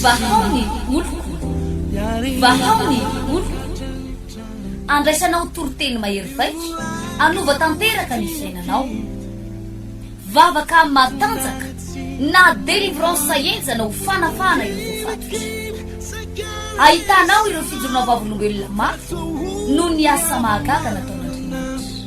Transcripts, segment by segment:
Vahao ny oloko, vahao ny oloko, andraisanao toriteny mahery vaika, anova tanteraka ny fiainanao. Vavaka matanjaka na délivrance henjana ho fanafahana ireo voafatotra. Ahitanao ireo fijoroana vavolombelona mafy noho ny asa mahagaga nataon'Andriamanitra.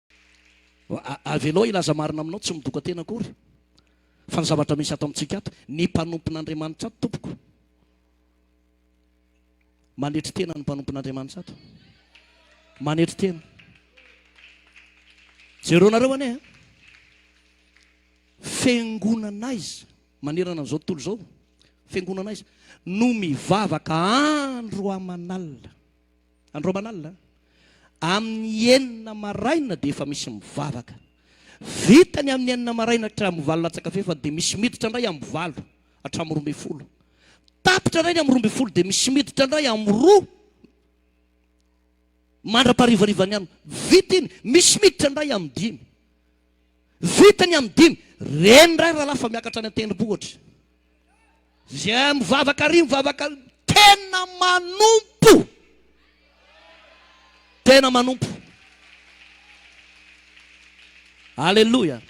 Avelao hilaza marina aminao, tsy midoka tena akory. Fa ny zavatra misy ato amintsika ato, ny mpanompon'Andriamanitra ato tompoko, manetry tena ny mpanompon'Andriamanitra ato. Manetry tena. Jereo nareo anie, fiangonana aiza manerana an'izao tontolo izao, fiangonana aiza no mivavaka andro aman'alina, Andromanalina amin'ny enina maraina dia efa misy mivavaka. Vita ny amin'ny enina maraina hatramin'ny valo latsakafefa dia misy miditra indray amin'ny valo hatramin'ny roa ambin'ny folo. Tapitra indray ny amin'ny roa ambin'ny folo dia misy miditra indray amin'ny roa mandra-paharivarivan'ny alina. Vita iny, misy miditra indray amin'ny dimy. Vita ny amin'ny dimy, reny indray rahalahy fa miakatra any an-tendrombohitra. Ze mivavaka ary mivavaka tena manompo tena manompo aleloia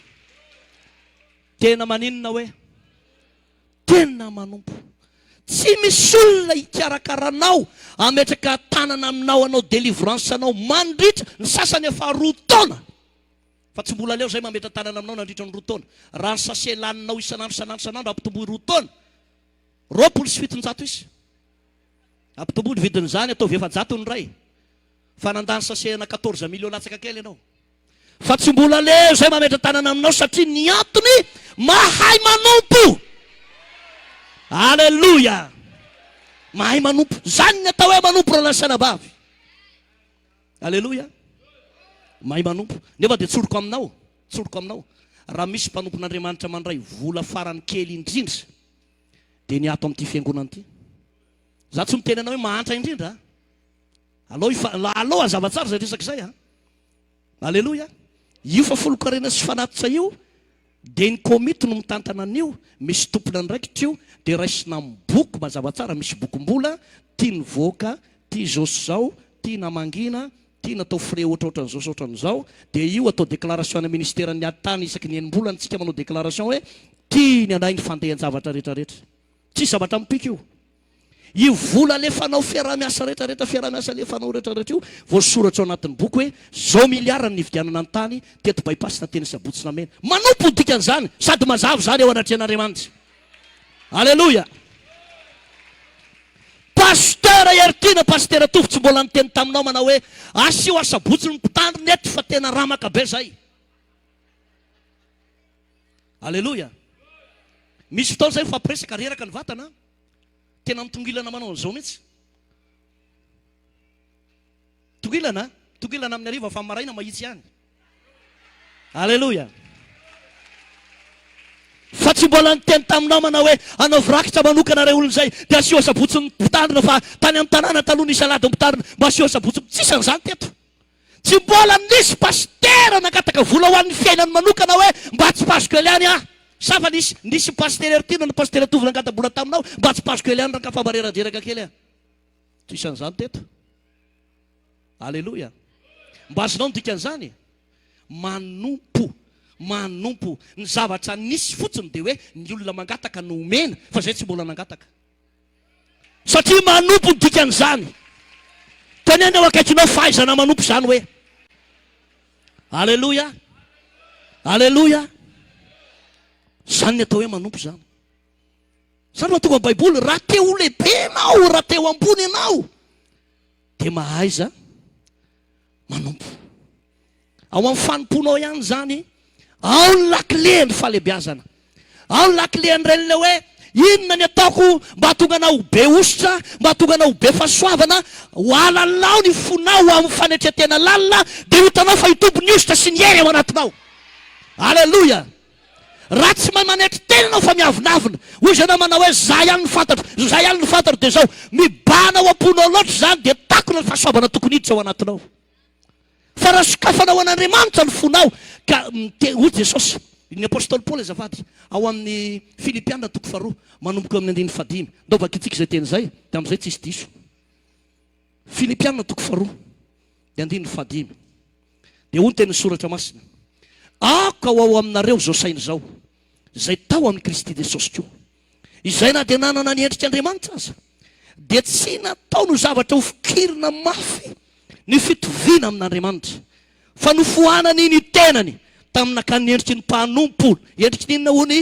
tena maninona hoe tena manompo tsy misy olona hikarakara anao ametraka tanana aminao anao delivrance anao mandritra ny sasany efa roa taona Fa tsy mbola aleo izay mametra-tanana aminao nandritra ny roa taona. Raha ny sachet laninao isan'andro isan'andro isan'andro ampitomboy roa taona, roapolo sy fitonjato isa. Ampitomboy ny vidin'izany, ataovy efajato ny iray. Fa nandà ny sachet ana quatorze millions latsaka kely ianao. Fa tsy mbola aleo izay mametra-tanana aminao satria ny antony mahay manompo! Aleloia! Mahay manompo. Izany ny atao hoe manompo, rahalahy sy anabavy. Aleloia! Mahay manompo. Nefa dia tsoriko aminao, tsoriko aminao, raha misy mpanompon'Andriamanitra mandray vola farany kely indrindra, dia ny ato amin'ity fiangonana ity. Za tsy miteny anao hoe mahantra indrindra. Alao ifa, alao hazava tsara izay resaka izay. Aleloia! Io fa folokarena sy fanatitra io, Dia ny komity no mitantana an'io, misy tompon'andraikitra io, dia raisina amin'ny boky mazava tsara, misy bokim-bola, ity nivoaka, ity izao sy izao, ity namangina, ity natao frais ohatraohatran'izao sy ohatran'izao, dia io atao déclaration any minisiteran'ny ady tany isaky ny enim-bolana isika manao déclaration hoe ity ny anay ny fandehan-javatra rehetrarehetra. Tsisy zavatra amim-piko io. Io vola alefanao fiaraha-miasa rehetra rehetra fiaraha-miasa alefanao rehetra rehetra io voasoratra ao anatin'ny boky hoe zao miliara ny nividianana ny tany teto bypass na teny sabotsy na mena manompo ny dikan'izany sady mazava izany eo anatrehan'andriamanitra aleloia pasteur heritiana pasteur tovo tsy mbola niteny taminao manao hoe asio asabotsy ny mpitandro ny eto fa tena ramaka be zay aleloia misy fotoana zay fa presaka reraka ny vatana Tena mitongilana manao an'izao mihitsy. Tongilana, tongilana amin'ny hariva fa maraina mahitsy ihany. Alléluia. Fa tsy mbola niteny tamin'ny namana hoe anaovy rakitra manokana ireo olona izay dia asio asabotsy ny mpitandrina fa tany amin'ny tanàna taloha nisy alady ny mpitandrina mba asio asabotsy. Tsisy an'izany teto. Tsy mbola nisy pasitera nangataka vola ho an'ny fiainany manokana hoe mba atsipaziko ely any aho. Sa fa nisy? Nisy ny pasitera Heritiana na pasitera Tovo nangata-bola tamina hoe mba atsipaziko ely any raha ka fa mba reradraraka kely aho. Tsy nisy an'izany teto. Aleloia. Mba azonao ny dikan'izany? Manompo. Manompo. Ny zavatra nisy fotsiny dia hoe ny olona mangataka no omena fa izay tsy mbola nangataka. Satria manompo no dikan'izany. Teneno eo akaikinao fahaizana manompo izany hoe. Aleloia. Aleloia. Izany ny atao hoe manompo izany. Izany no tonga Baiboly, raha te ho lehibe ianao, raha te ho ambony ianao, dia mahaiza manompo. Ao amin'ny fanompoanao ihany izany, ao ny lakile ny fahalebiazana. Ao ny lakile an'ireny hoe inona ny ataoko mba hahatonga anao ho be hosotra, mba hahatonga anao ho be fahasoavana, ho halalao ny fonao ho amin'ny fanetren-tena lalina, dia ho hitanao fa hitombo ny hosotra sy ny hery ao anatinao. Aleloia! Raha tsy mahay manetry tena ianao fa miavonavona, hoy izay namana anao hoe za ihany no fantatro, za ihany no fantatro dia izao, mibahana ao am-ponao loatra izany dia takona ny fahasoavana tokony hiditra ao anatinao. Fa raha sokafanao an'Andriamanitra ny fonao ka miteny, hoy Jesosy, ny apostoly Paoly azafady, ao amin'ny Filipiana toko faharoa manomboka eo amin'ny andininy fahadimy, ndao vakintsika izay teny izay dia amin'izay tsy hisy diso. Filipiana toko faharoa dia andininy fahadimy dia hoy ny tenin'ny soratra masina, Aoka ho ao aminareo izao saina izao, izay tao amin'i Kristy Jesosy koa, izay na dia nanana ny endrik' Andriamanitra aza, dia tsy nataony ho zavatra hofokirina mafy ny fitoviana amin' Andriamanitra, fa nofoanany ny tenany tamin'ny nakany ny endriky ny mpanompo, endriky ny inona hono?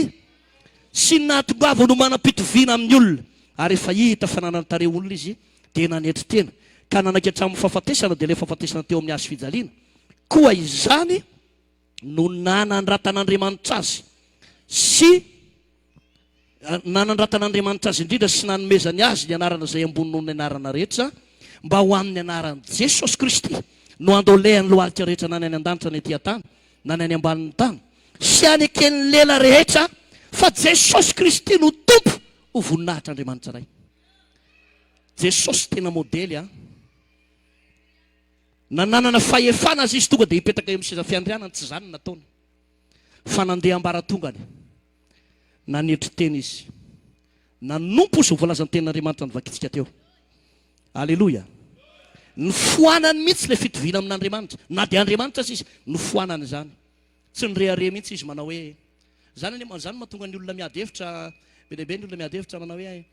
sy ny nahatongavany ho manam-pitoviana amin'ny olona, ary efa hita fa nanan-tarehy olona izy dia nanetry tena ka nanaiky hatramin'ny fahafatesana dia ilay fahafatesana teo amin'ny hazo fijaliana, koa izany no nanandratan'Andriamanitra azy sy nanandratan'Andriamanitra azy indrindra sy nanomezany azy ny anarana izay ambony noho ny anarana rehetra, mba ho amin'ny anaran'i Jesosy Kristy no andolehan'ny lohalika rehetra na ny any an-danitra ny aty an-tany na ny any ambanin'ny tany, sy haneken'ny lela rehetra fa Jesosy Kristy no Tompo ho voninahitr'Andriamanitra Ray. Jesosy tena modely a! Na nanana fahefana aza Izy tonga dia hipetraka eo amin'ny seza fiandrianany, tsy izany no nataony. Fa nandeha ambaratongany, nanetry tena Izy. Nanompo izao voalazan-tenin'Andriamanitra novakintsika teo. Aleloia! Nofoanany mihitsy ilay fitoviana amin'Andriamanitra. Na dia Andriamanitra aza Izy, nofoanany izany. Tsy nirehareha mihitsy izy manao hoe, Izany anie izany no mahatonga ny olona miady hevitra, be dia be ny olona miady hevitra manao hoe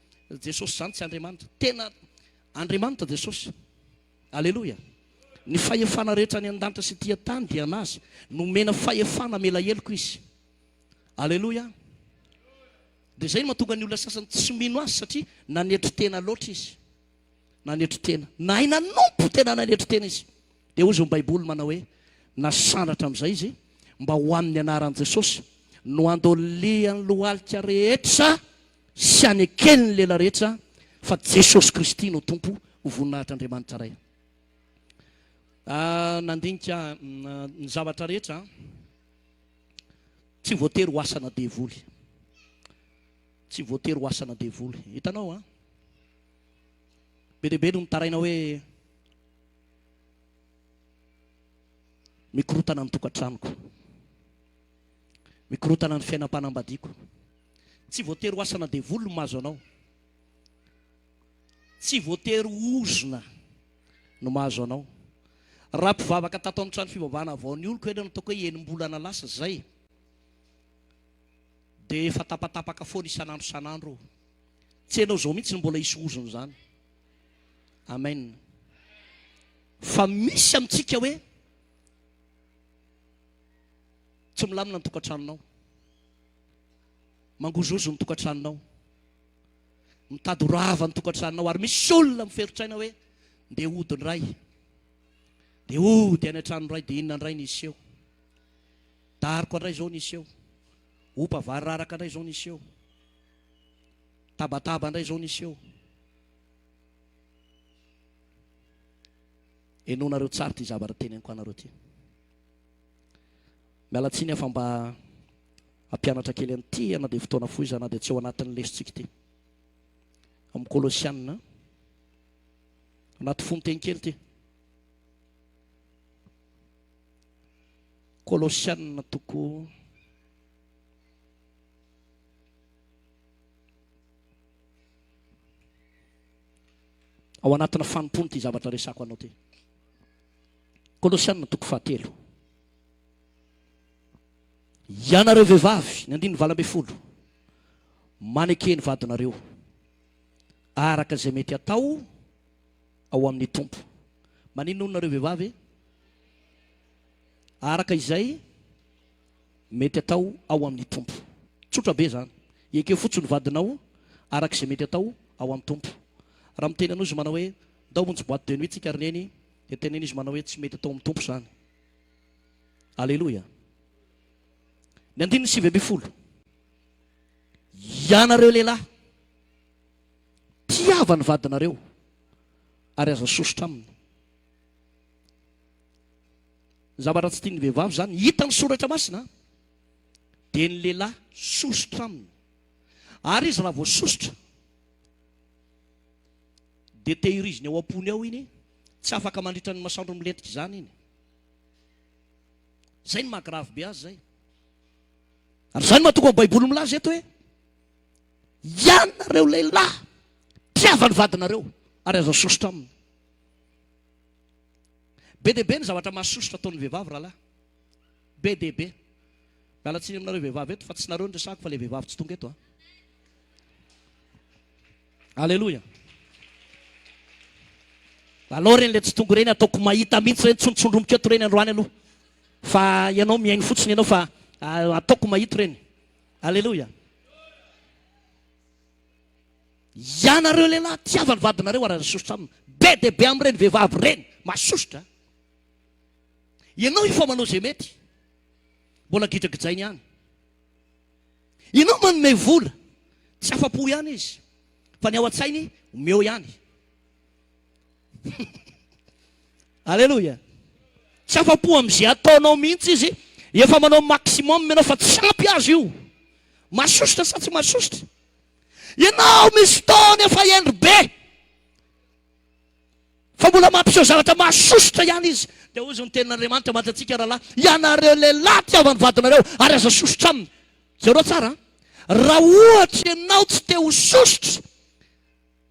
Jesosy izany tsy Andriamanitra. Tena Andriamanitra Jesosy. Aleloia. Ny fahefana rehetra any an-danitra sy aty an-tany dia an'Azy. Nomena fahefana hamela heloka Izy. Aleloia. Dia izay no mahatonga ny olona sasany tsy mino Azy satria nanetry tena loatra izy. nanetry tena. Nahay nanompo tena nanetry tena izy. Dia hoy izao ny Baiboly manao hoe, Nasandratra amin'izay izy mba ho amin'ny anaran'i Jesosy no andolian'ny lohalika rehetra sy anekeny ny lela rehetra fa Jesosy Kristy no Tompo ho voninahitr'Andriamanitra Ray. Ah, nandinika ny zavatra rehetra tsy voatery ho asana devoly tsy voatery ho asana devoly hitanao a Be dia be no mitaraina hoe mikorontana ny tokantranoko, mikorontana ny fiainam-panambadiako. Tsy voatery ho asana devoly no mahazo anao, tsy voatery ho ozona no mahazo anao. Raha mpivavaka tato amin'ny trano fivavahana vao nioloko ianao, ataoko hoe enim-bolana lasa izay, Dia efa tapatapaka foana isan'andro isan'andro ô. Tsy ianao izao mihitsy no mbola hisy hozona izany. Amen. Fa misy amintsika hoe tsy milamina ny tokantranonao. Mangozozo ny tokantranonao. Mitady rava ny tokantranonao ary misy olona miferotraina hoe ndeha hody indray. Dia hody any an-trano indray dia inona indray ny hiseho? Daroka indray izao nisy eo. Opa vary raraka indray izao nisy eo. Tabataba indray izao nisy eo. Henoinareo tsara ity zavatra teneniko anareo ity. Miala tsiny aho fa mba hampianatra kely an'ity na dia fotoana fohy izany na dia tsy ao anatin'ny lesotsika ity. Amin'ny Kolosianina, anaty fonteny kely ity. Kolosiana tokoa. Ao anatina fanompoana ity zavatra resako anao ity. Kolosiana toko fahatelo. Ianareo vehivavy, ny andininy valo ambin'ny folo, maneke ny vadinareo araka izay mety atao ao amin'ny Tompo. Maninona hono nareo vehivavy e? Araka izay mety atao ao amin'ny Tompo. Tsotra be izany. Ekeo fotsiny ny vadinao araka izay mety atao ao amin'ny Tompo. Raha miteny anao izy manao hoe ndao hamonjy boîte de nuit tsika ry neny dia teneno izy manao hoe tsy mety atao amin'ny Tompo izany. Aleloia. Ny andininy sivy ambin'ny folo. Ianareo lehilahy. Tiava ny vadinareo ary aza sosotra aminy. Ny zavatra tsy tian'ny vehivavy izany hita ny soratra masina dia ny lehilahy sosotra aminy. Ary izy raha vao sosotra dia tehiriziny ao am-pony ao iny, tsy afaka mandritra ny masoandro milentika izany iny. Izay ny maha grave be azy izay. Ary izany mahatonga ny Baiboly milaza eto hoe Ianareo lehilahy, tiava ny vadinareo ary aza sosotra aminy. Be dia be ny zavatra mahasosotra ataon'ny vehivavy rahalahy. Be dia be. Miala tsiny aminareo vehivavy eto fa tsy nareo ny resako fa ilay vehivavy tsy tonga eto a. Aleloia. Alao reny le tsy tonga reny ataoko mahita mihitsy reny tsonotsondromiko eto reny androany aloha. Fa ianao mihaino fotsiny ianao fa ah, ataoko mahita reny. Aleloia! Ianareo lehilahy, tiava ny vadinareo ary arasosotra aminy. Be dia be amin'ireny vehivavy ireny, masosotra. Ianao io fa manao izay mety, mbola gidragijainy ihany. Ianao manome vola, tsy afa-po ihany izy, fa ny ao an-tsainy omeo ihany. Aleloia. Tsy afa-po amin'izay ataonao mihitsy izy. Efa manao maximum ianao fa tsy ampy azy io. Masosotra sa tsy masosotra? Ianao misy fotoana efa hendry be. Fa mbola mampiseho zavatra masosotra ihany izy. Dia hoy izao ny tenin'Andriamanitra maty antsika rahalahy, ianareo lehilahy tiavan'ny vadinareo ary aza sosotra aminy. Jereo tsara. Raha ohatra ianao tsy te ho sosotra,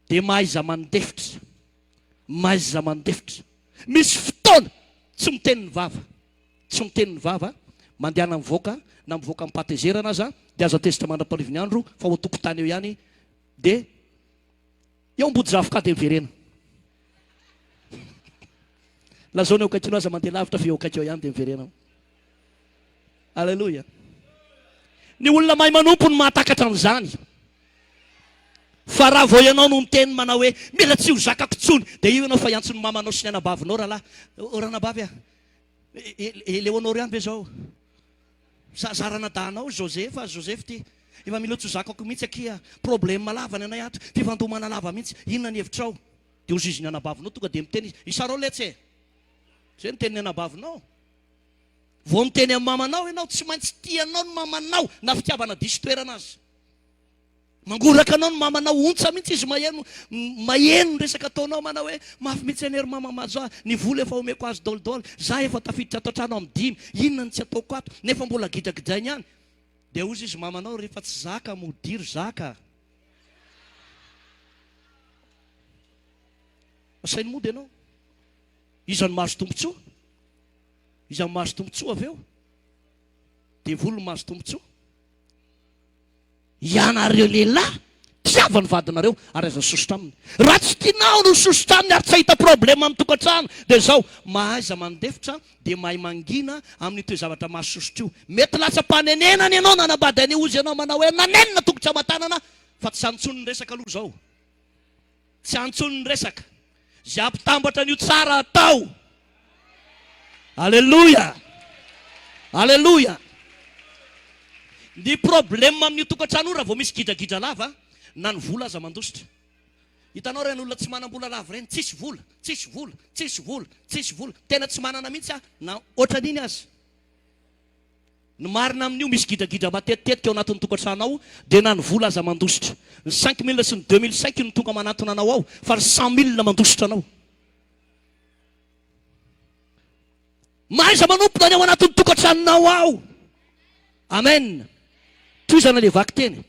Dia mahaiza mandefitra, mahaiza mandefitra. Misy fotoana tsy miteny ny vava, tsy miteny ny vava, mandehana mivoaka na mivoaka am-pahatezerana aza dia aza tezitra mandra-parivin'ny andro fa ao an-tokotany eo ihany dia eo Ambodizavokà dia miverena. Lazao ny eo akaikino aza mandeha lavitra fa eo akaiky eo ihany dia miverena. Aleloia. Ny olona mahay manompo no mahatakatra an'izany. Fa raha vao ianao no niteny manao hoe mila tsy ho zakako intsony, dia io ianao fa hiantso ny mamanao sy ny anabavinao rahalahy. O ranabavy a, Eleonore ihany ve izao? Za, za ranadahinao José fa Joseph ty. Efa mila tsy ho zakako mihitsy akia. Problème lava ny anay ato, fifantomana lava mihitsy. Inona ny hevitrao? Dia ho juge ny anabavinao, tonga dia miteny izy, isarao letsy e! Izay no tenin'ny anabavinao. Vao miteny amin'ny mamanao ianao, tsy maintsy tia anao ny mamanao na fitiavana diso toerana aza. Mangoraka anao ny mamanao, ontsa mihitsy izy maheno, maheno ny resaka ataonao, manao hoe mafy mihitsy anie ry mama mahazo ahy, ny vola efa omeko azy daolidaoly, za efa tafiditra ato an-trano amin'ny dimy, inona no tsy ataoko ato, nefa mbola gidragidrainy ihany. Dia hozy izy mamanao, rehefa tsy zaka moa diro zaka. Asainy mody ianao. Iza no mahazo tombontsoa? Iza no mahazo tombontsoa avy eo? Devoly no mahazo tombontsoa. Ianareo lehilahy, tiava ny vadinareo ary aza sosotra aminy. Raha tsy tianao no sosotra aminy ary tsy hahita problème amin'ny tokantrano dia izao, mahaiza mandefitra dia mahay mangina amin'io toe-javatra mahasosotra io. Mety latsa-panenenana ianao nanambady an'io ozy ianao manao hoe nanenina tongotra aman-tanana fa tsy zany intsony ny resaka aloha izao. Tsy antsoiny ny resaka. Zay ampitambatra an'io tsara atao. Aleloia! Aleloia! Ny problème amin'io tokantrano io raha vao misy gidragidra lava na ny vola aza mandositra. Hitanao ireny olona tsy manam-bola lava ireny, tsisy vola, tsisy vola, tsisy vola, tsisy vola, tena tsy manana mihitsy aho na ohatran'iny aza. Ny marina amin'io, misy gidragidra matetitetika ao anatin'ny tokantrano ao, dia na ny vola aza mandositra. Ny cinq mille sy ny deux mille cinq no tonga manantona anao ao, fa ny cent mille mandositra anao. Mahaiza manompona ny ao anatin'ny tokantranonao ao. Amen. Tohizana ilay vakiteny.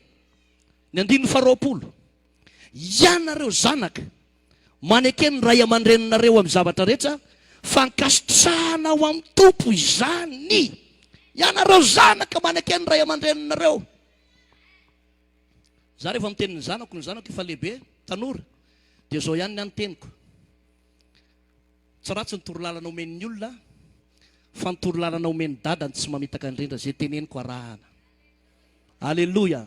Ny andininy faharoapolo. Ianareo zanaka. Maneke ny ray aman-dreninareo amin'ny zavatra rehetra, fa ankasitrahana ao amin'ny Tompo izany. Ianareo zanaka, maneke ny ray aman-dreninareo. Za rehefa miteny ny zanako, ny zanako efa lehibe, tanora, dia izao ihany ny any teniko. Tsy ratsy ny torolalana omen'ny olona, fa ny torolalana omen'ny dadany tsy mamitaka indrindra, izay teneniko arahana. Aleloia!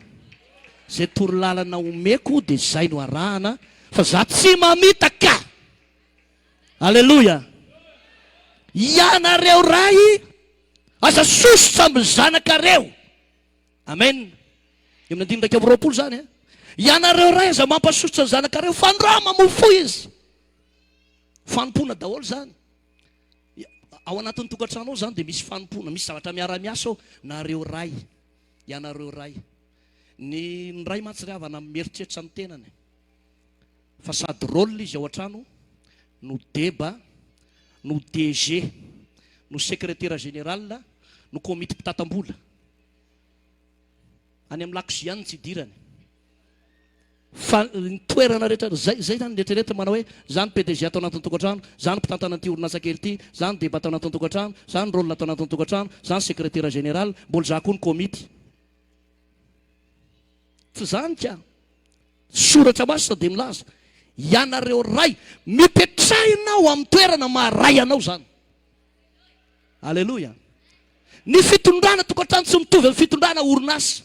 Izay torolalana omeko dia izay no arahana fa za tsy mamitaka! Aleloia! Ianareo ray aza sosotra amin'ny zanakareo! Amen! Eo amin'ny andininy iraika amby roapolo izany eh! Ianareo ray aza mampasosotra ny zanakareo fa ny ra mamofoy izy! Fanompoana daholo izany! Ao anatin'ny tokantrano ao izany dia misy fanompoana, misy zavatra miara-miasa ao, nareo ray, ianareo ray. Ny ny ray mantsy ry havana mieritreritra ny tenany fa sady rôle izy ao an-trano no deba, no DG, no sekretera général, no komity mpitatam-bola. Any amin'ny lakozia any ny tsy idirany. Fa ny toerana rehetra ry zay, zay zany ny eritreretina manao hoe za ny pdg ato anatin'ny tokantrano, za ny mpitantana an'ity orinasa kely ity, za ny deba ato anatin'ny tokantrano, za ny rôle ato anatin'ny tokantrano, za ny sekretera général, mbola za koa ny komity. Tsy zany ka. Soratra masina dia milaza, ianareo ray, mipetrahina ao amin'ny toerana maha ray anao zany. Aleloia. Ny fitondrana tokantrano tsy mitovy amin'ny fitondrana orinasa.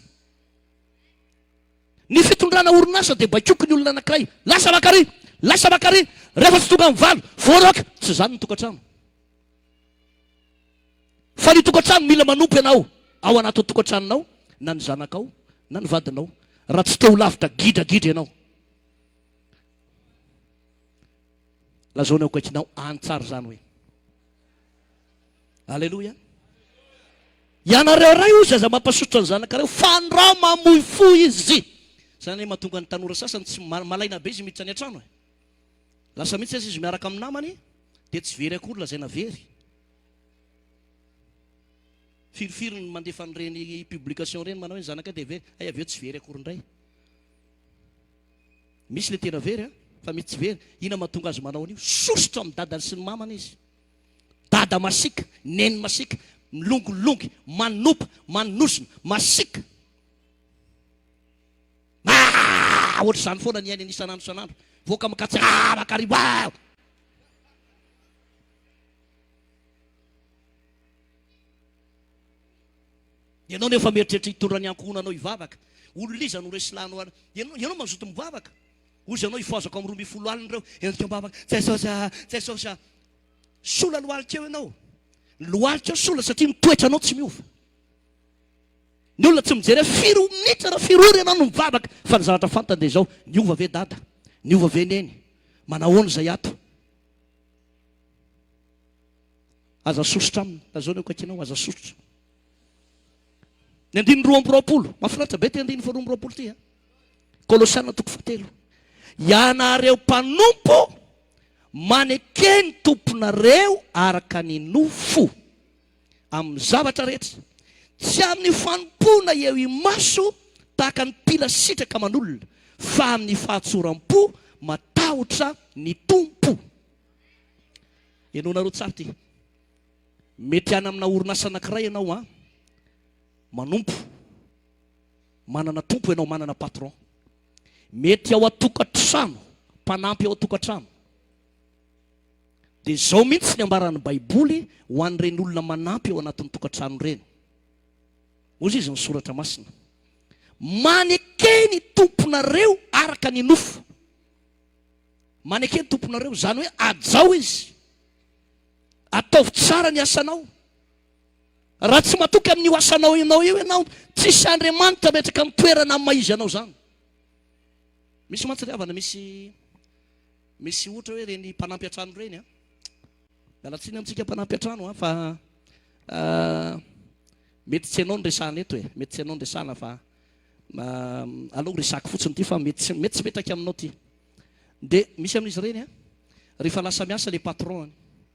Ny fitondrana orinasa dia baikoiko ny olona anankiray, lasa maka ary! Lasa maka ary! Rehefa tsy tonga amin'ny valo, voaroaka! Tsy izany ny tokantrano. Fa ny tokantrano mila manompo ianao ao anatin'ny tokantranonao, na ny zanakao, na ny vadinao, raha tsy te ho lavitra gidragidra ianao. Lazao ny ao akaikinao, hany tsara izany hoe. Aleloia. Ianareo ray ozy aza mampasotra ny zanakareo fa ndrao mamoifoy izy. Izany hoe mahatonga ny tanora sasany tsy malaina be izy miditra any an-trano e. Lasa mihitsy aza izy miaraka amin'ny namany dia tsy very akory lazaina very. Firifiry ny mandefa an'ireny publication ireny manao hoe zanakay dia very, hay avy eo tsy very akory indray. Misy ilay tena very fa misy tsy very. Inona mahatonga azy manao an'io? Sosotra amin'ny dadany sy ny mamany izy. Dada masiaka, Neny masiaka, milongilongy, manonopy, manonosona, masiaka. Aa! Ohatr'izany foana ny iainany isan'andro isan'andro. Voaka maka tsy aa maka ry aa! Ianao nefa mieritreritra hitondra ny ankohonanao hivavaka. Olona iza no resy lahinao ary ianao mazoto mivavaka? Hozy ianao hifohazako amin'ny roa ambin'ny folo alina ireo, entiko am-bavaka, Jesosy ah, Jesosy ah. Sola lohalikeo ianao. Ny lohalikeo sola satria ny toetranao tsy miova. Ny olona tsy mijery hoe firy minitra na firy ora ianao no mivavaka, fa ny zavatra fantany dia izao, niova ve dada? Niova ve neny? Manahoana izay ato? Aza sosotra aminy, lazao ny akaikinao, aza sosotra. Ny andininy roa amby roapolo, mafinaritra be ty andininy fa roa amby roapolo ty. Kolosana toko fahatelo. Ianareo mpanompo, maneke ny tomponareo araka ny nofo, amin'ny zavatra rehetra, tsy amin'ny fanompoana eo imaso tahaka ny mpila sitraka aman'olona, fa amin'ny fahatsoram-po matahotra ny Tompo. Henoinareo tsara ity. Mety any amina orinasa anankiray ianao manompo. Manana tompo ianao, manana patron. Mety ao an-tokantrano, mpanampy ao an-tokantrano. Dia izao mihitsy ny ambaran'ny Baiboly ho an'ireny olona manampy ao anatin'ny tokantrano ireny. Hoy izy ny soratra masina, Maneke ny tomponareo araka ny nofo. Maneke ny tomponareo, izany hoe hajao izy. Ataovy tsara ny asanao. Raha tsy matoky amin'io asanao enao io ianao, tsisy Andriamanitra mipetraka amin'ny toerana amin'ny maha izy anao izany. Misy mantsy ry havana misy misy ohatra hoe ireny mpanampy an-trano ireny a. Miala tsiny amintsika mpanampy an-trano a fa mety tsy ianao no resahana eto e, mety tsy ianao no resahana fa aleo ho resahako fotsiny ity fa mety tsy mety tsy mipetraka aminao ity. Dia misy amin'izy ireny a, rehefa lasa miasa ilay patron-ny.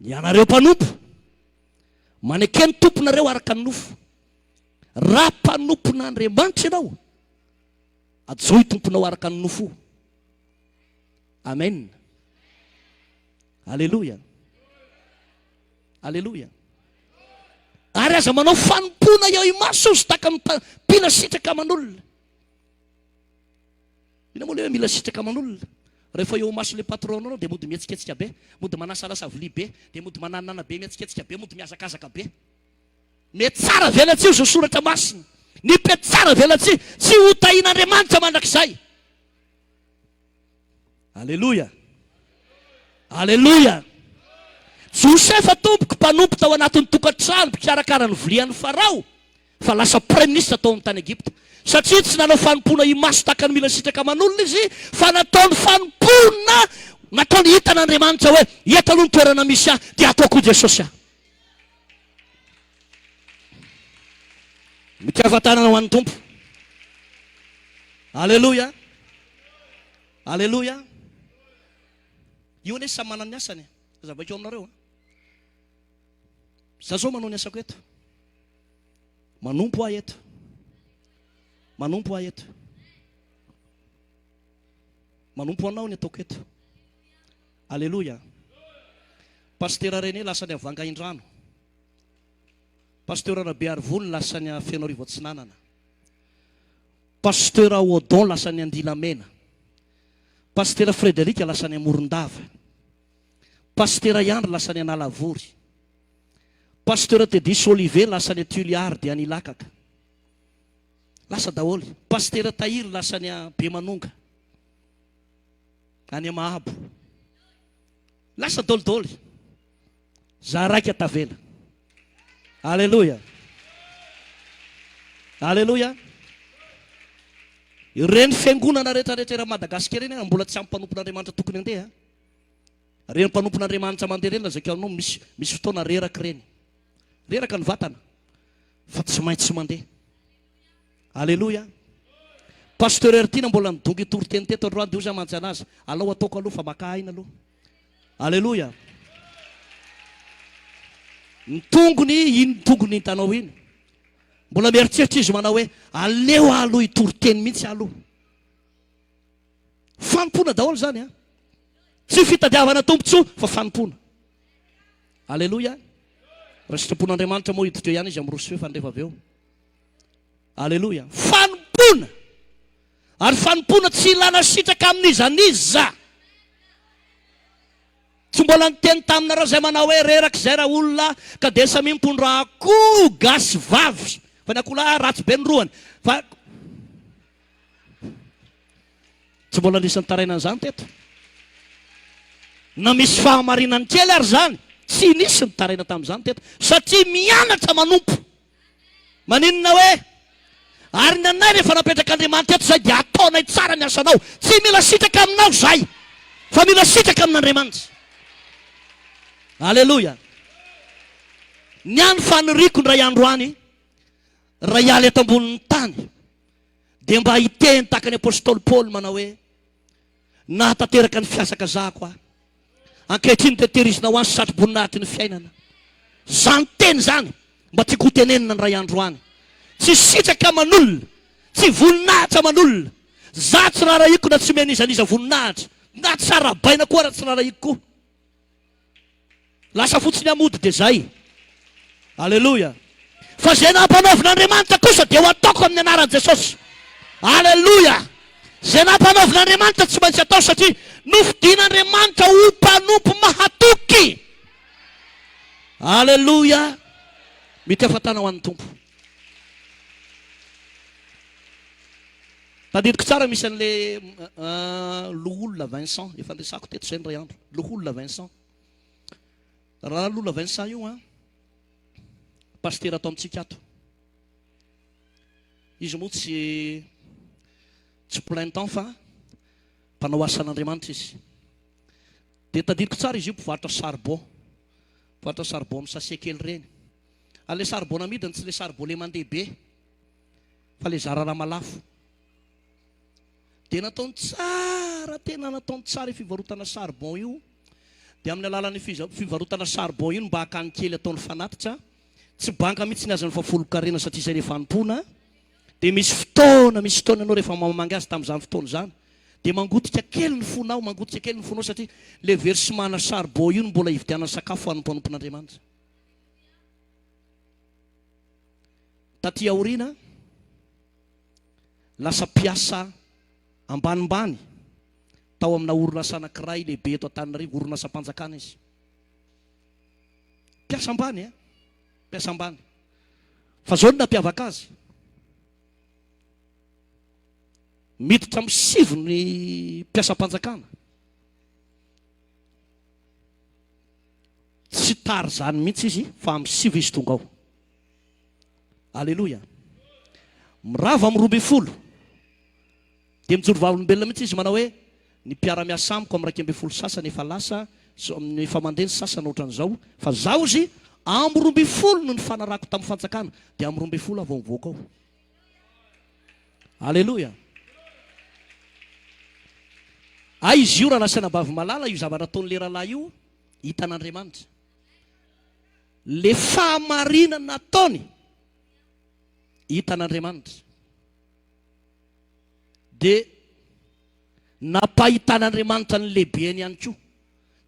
Ianareo mpanompo, maneke ny tomponareo araka ny nofo. Raha mpanompon'Andriamanitra ianao, ajoy tomponao araka ny nofo. Amen. Aleloia. Aleloia. Ary aza manao fanompoana eo imaso ozy taka mpila sitraka aman'olona. Inona moa le mila sitraka aman'olona? Rehefa eo imaso le patron-nao anao dia mody mihetsiketsika be, mody manasalasa vilia be, dia mody mananana be, mihetsiketsika be, mody mihazakazaka be. Mety tsara velatsihy izao soratra masina. Ny pety tsara velatsihy, tsy ho tahin'Andriamanitra mandrakizay. Aleloia! Aleloia! Josefa tompoko, mpanompo tao anatin'ny tokantrano, mpikarakara ny vilian'i Farao, fa lasa praiminisitra tao amin'ny tany Egypta, satria tsy nanao fanompoana imaso tahaka ny mila sitraka aman'olona izy, fa nataony fanompoana nataony hita an'Andriamanitra hoe, eto aloha ny toerana misy ahy, dia ato koa Jesosy ahy. Mikava-tanana ho an'ny Tompo. Aleloia. Aleloia. Io anie samy manana ny asany. Aza vaiko aminareo. Za zao manao ny asako eto. Manompo aho eto. Manompo aho eto. Manompo anao ny ataoko eto. Alléluia. Pasteur René lasa ny avanga indrano. Pasteur Rabe Arivony lasa ny Fenoarivo Atsinanana. Pasteur Odon lasa ny Andilamena. Pasteur Frederic lasa ny Amorondava. Pasteur Yandry lasa ny Analavory. Pasteur Teddy sy Olivier lasa any Tuliard any Ilakaka. Lasa daholo. Pasitera Tahiry lasa any Bemanonga. Any Mahabo. Lasa dolidoly. Za raika tavela. Alléluia. Alléluia. Ireny fiangonana rehetra rehetra eran'i Madagasikara ireny ary mbola tsy ampy mpanompon'Andriamanitra tokony handeha. Reny mpanompon'Andriamanitra manderena zay kanoa misy misy fotoana reraka reny. Reraka ny vatana fa tsy maintsy mandeha. Aleloia. Pasteur Ertina mbola nidongy toriteny teto androany dia hoy za mantsy anazy, alao ataoko aloha fa maka aina aloha. Aleloia. Ny tongony iny ny tongony hitanao iny. Mbola mieritreritra izy manao hoe aleo aloha hitoriteny mihitsy aloha. Fanompoana daholo izany an! Tsy fitadiavana tombontsoa fa fanompoana. Aleloia! Raha sitrapon'Andriamanitra moa hiditra eo ihany izy miroso feo fa ny rehefa avy eo. Aleloia! Fanompoana! Ary fanompoana tsy ilana sitraka amin'iza n'iza. Tsy mbola niteny taminareo izay manao hoe reraka izay raha olona ka dia samia mitondra akoho gasy vavy. Fa ny akoholahy ratsy be ny rohany. Fa Tsy mbola nisy nitaraina an'izany teto. Na misy fahamarinany kely ary izany, tsy nisy nitaraina tamin'izany teto. Satria mianatra manompo. Maninona hoe, Ary ny anay rehefa napetrak'Andriamanitra eto izay dia ataonay tsara ny asanao. Tsy mila sitraka aminao izahay, fa mila sitraka amin'Andriamanitra. Aleloia. Ny ahy ny faniriako indray andro any, raha hiala eto ambonin'ny tany, dia mba hiteny tahaka ny apostoly Paoly manao hoe, Nahatanteraka ny fihazakazahako aho. Ankehitriny dia tehirizina ho ahy ny satroboninahitry ny fiainana. Izany teny izany mba tiako hotenenina indray andro any. Tsy sitraka aman'olona, tsy voninahitra aman'olona. Izaho tsy raharahiako na tsy omen'iza n'iza voninahitra, na tsy arahabaina koa ary tsy raharahiako koa. Lasa fotsiny aho mody dia zay. Aleloia. Fa zay nampanaovin'Andriamanitra kosa dia ho ataoko amin'ny anaran'i Jesosy. Aleloia. Zay nampanaovin'Andriamanitra tsy maintsy atao satria nofidin'Andriamanitra ho mpanompo mahatoky. Aleloia. Mitefa-tana ho an'ny Tompo. Tadidiko tsara misy an'le Loholona Vincent, efa niresako teto izay indray andro. Loholona Vincent. Raha Loholona Vincent io an, pasitera ato amintsika ato. Izy moa tsy tsy plein temps fa mpanao asan'Andriamanitra izy. Dia tadidiko tsara izy io mpivarotra charbon. Mpivarotra charbon amin'ny sase kely ireny. ary ilay saribon amidiny tsy ilay saribon le mandeha be fa ilay zara raha malafo dia nataony tsara tena nataony tsara io fivarotana saribon io dia amin'ny alalan'ny fivarotana saribon io mba hakany kely ataony fanatitra tsy banga mihitsy ny azany fa volonkarena satria izay rehefa anompoana dia misy fotoana misy fotoana ianao rehefa mamangy azy tamin'izany fotoana izany dia mangotika kely ny fonao mangotika kely ny fonao satria le versimana saribon io no mbola hividianana sakafo hanompoanompon'andriamanitra Taty aoriana, lasa mpiasa ambanimbany tao amina orinasa anankiray lehibe eto Antananarivo, orinasam-panjakana izy. Mpiasa ambany eh, mpiasa ambany. Fa zao no nampiavaka azy. Miditra amin'ny sivy ny mpiasam-panjakana. Tsy tary izany mihitsy izy fa amin'ny sivy izy tonga ao. Aleloia. Mirava amin'ny roa ambin'ny folo. Dia mijoro vavolombelona mihitsy izy manao hoe ny mpiara-miasa amiko amin'ny iraika ambin'ny folo sasany efa lasa, efa mandeha ny sasany ohatran'izao, fa izaho izy amin'ny roa ambin'ny folo no nifanarahako tamin'ny fanjakana, dia amin'ny roa ambin'ny folo aho vao mivoaka ao. Aleloia. Hay izy io raha lasaina bavy malala io zavatra ataon'ny leralahy io hitan'Andriamanitra. Le fahamarinana ataony hitan'Andriamanitra. Dia nampahitan'Andriamanitra ny lehibeny ihany koa.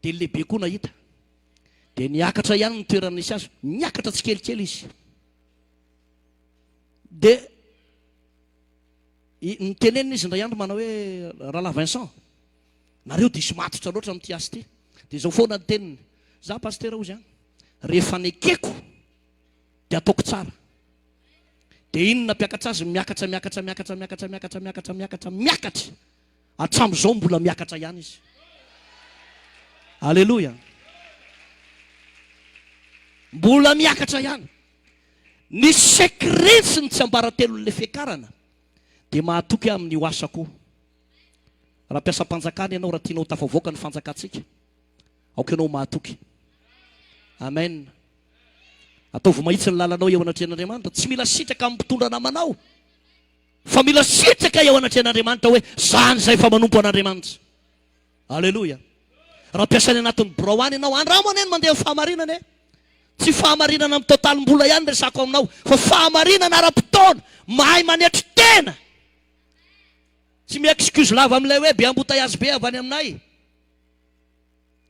Dia lehibe koa nahita. Dia niakatra ihany ny toerana nisy azy. Niakatra tsikelikely izy. Dia nitenenina izy indray andro manao hoe Rahalahy Vincent, nareo diso matotra loatra amin'ity asa ity. Dia izao foana ny teniny, za pasitera hozy an, rehefa nekeko dia ataoko tsara. Dia inona mpiakatra azy miakatra miakatra miakatra miakatra miakatra miakatra miakatra miakatra. Hatramin'izao mbola miakatra ihany izy. Aleloia. Mbola miakatra ihany. Ny secret sy ny tsiambaratelon'ilay fiakarana dia mahatoky ahy amin'io asako io. Raha mpiasam-panjakana ianao, raha tianao ho tafavoaka ny fanjakantsika, aoka ianao ho mahatoky. Amen. Ataovy mahitsy ny lalanao eo anatrehan'Andriamanitra. Tsy mila sitraka amin'ny mpitondra namanao. Fa mila sitraka eo anatrehan'Andriamanitra hoe zany izay fa manompo an'Andriamanitra. Aleloia. Raha mpiasa any anatin'ny birao any ianao, andramo anie ny mandeha amin'ny fahamarinana e. Tsy fahamarinana amin'ny totalim-bola ihany resako aminao, fa fahamarinana ara-potoana, mahay manetry tena. Tsy mi-excuse lava amin'ilay hoe be embouteillages be avy any aminay.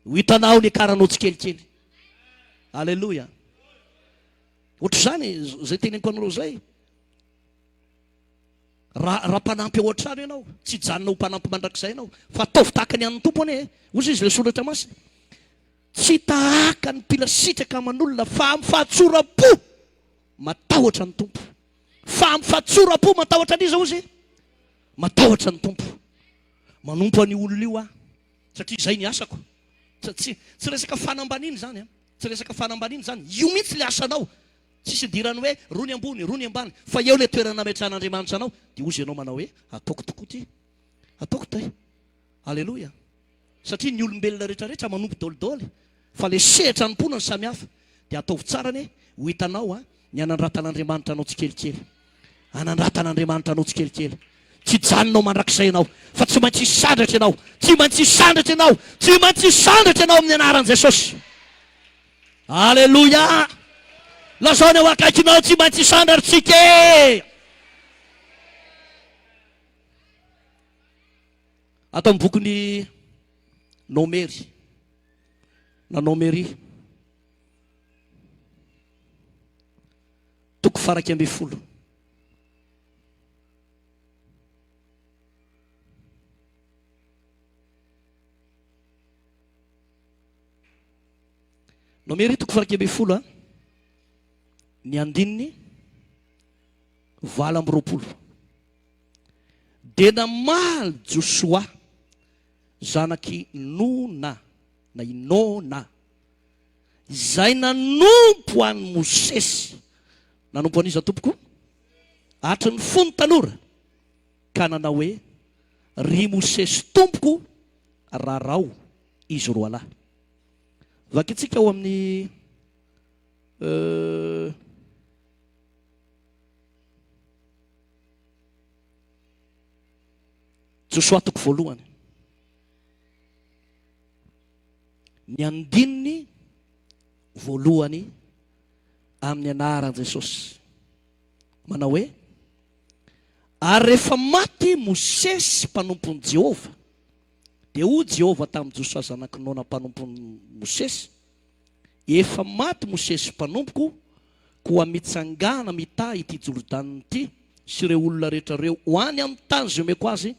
Ho hitanao ny karanao tsikelikely. Aleloia. Ohatr'izany izay teneniko anareo izay. Raha raha mpanampy ao an-trano ianao, tsy hijanona ho mpanampy mandrakizay ianao, fa ataovy tahaka ny an'ny Tompo anie e! Hoy izy ilay soratra masina. Tsy tahaka ny mpila sitraka aman'olona, fa amin'ny fahatsoram-po matahotra ny Tompo. Fa amin'ny fahatsoram-po matahotra an'iza hoy izy? Matahotra ny Tompo. Manompo an'io olona io aho, satria izay ny asako. Tsy, tsy resaka fanambaniana izany an. Tsy resaka fanambaniana izany. Io mihitsy ilay asanao. Tsisy idirany hoe roa ny ambony, roa ny ambany, fa eo ilay toerana nametrahan'Andriamanitra anao, dia hozy ianao manao hoe, ataoko tokoa ity. Ataoko ity. Aleloia. Satria ny olombelona rehetrarehetra manompo daolidaoly, fa ilay sehatra anompoana no samihafa. Dia ataovy tsara anie, ho hitanao an. Ny hanandratan'Andriamanitra anao tsikelikely. Hanandratan'Andriamanitra anao tsikelikely. Tsy hijanona ao mandrakizay ianao, fa tsy maintsy hisandratra ianao, tsy maintsy hisandratra ianao, tsy maintsy hisandratra ianao amin'ny anaran'i Jesosy. Aleloia! Lazao ny ao akaikinao, tsy maintsy hisandratrtsika e! Ato amin'ny bokin'ny Nomery, na Nomery, Toko faha iraika ambin'ny folo. Nomery toko faha iraika ambin'ny folo a. Ny andininy valo amby roapolo. Dia namaly Josoa zanak'i Nona na i Nona Izay nanompo an'i Mosesy. Nanompo an'iza tompoko? Hatry ny fony tanora. Ka nanao hoe, Ry Mosesy tompoko, rarao izy roalahy. Vakintsika ao amin'ny euh, Josoa toko voalohany. ny andininy voalohany amin'ny anaran'i Jesosy. Manao hoe, Ary rehefa maty Mosesy mpanompon'i Jehovah, dia hoy Jehovah tamin'i Josoa zanak'i Nona mpanompon'i Mosesy, Efa maty Mosesy mpanompoko, koa mitsangàna mitaha ity Jordana ity sy ireo olona rehetra ireo ho any amin'ny tany izay omeko azy,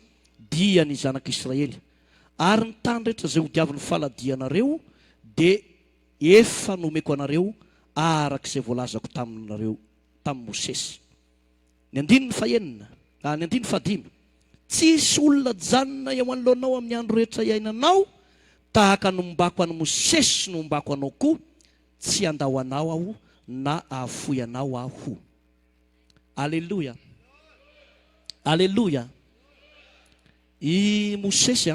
dia ny zanak'Israely. Ary ny tany rehetra izay hodiavin'ny faladianareo dia efa nomeko anareo araka izay voalazako taminareo tamin'i Mosesy. Ny andininy fahenina, ah, ny andininy fahadimy, Tsy hisy olona janona eo anoloanao amin'ny andro rehetra iainanao, tahaka ny nombako an'i Mosesy sy nombako anao koa, tsy handao anao aho na hahafoy anao aho. Aleloia! Aleloia! I Mosesy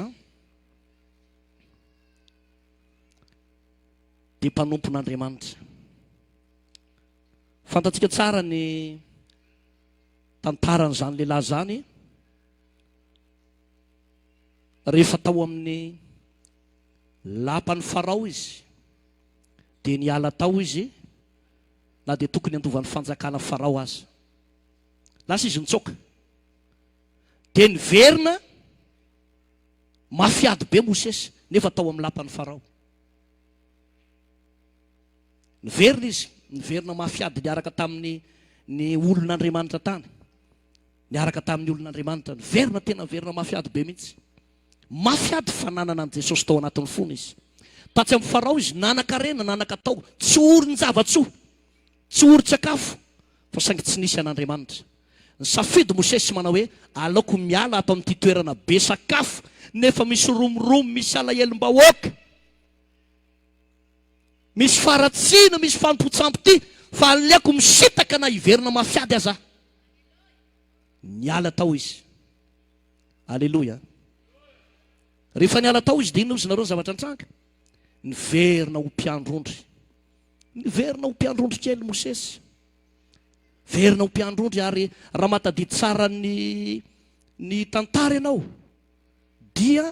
dia mpanompon'Andriamanitra. Fantatsika tsara ny tantaran'izany lehilahy izany rehefa tao amin'ny lapan'ny farao izy dia niala tao izy na dia tokony handova ny fanjakana farao aza. Lasa izy nitsoaka. Dia niverina mafy ady be Mosesy, nefa tao amin'ny lapan'i Farao. Niverina izy, niverina mafy ady niaraka tamin'ny ny olon'Andriamanitra tany. Niaraka tamin'ny olon'Andriamanitra, niverina tena niverina mafy ady be mihitsy. Mafy ady fa nanana an'i Jesosy tao anatin'ny fony izy. Tatsy amin'ny Farao izy, nanan-karena, nanan-katao, tsy orin-java-tsoa. Tsy orin-tsakafo fa saingy tsy nisy an'Andriamanitra. Nisafidy Mosesy manao hoe, Aleoko miala ato amin'ity toerana be sakafo nefa misy romoromo, misy alahelom-bahoaka, misy faharatsiana, misy fanompoan-tsampy ity, fa aleoko misintaka na hiverina mafy ady aza aho. Niala tao izy. Aleloia! Rehefa niala tao izy dia inona hoy izy nareo ny zavatra nitranga? Niverina ho mpiandry ondry. Niverina ho mpiandrondry kely Mosesy. Niverina ho mpiandrondry ary raha mahatadidy tsara ny ny tantara ianao dia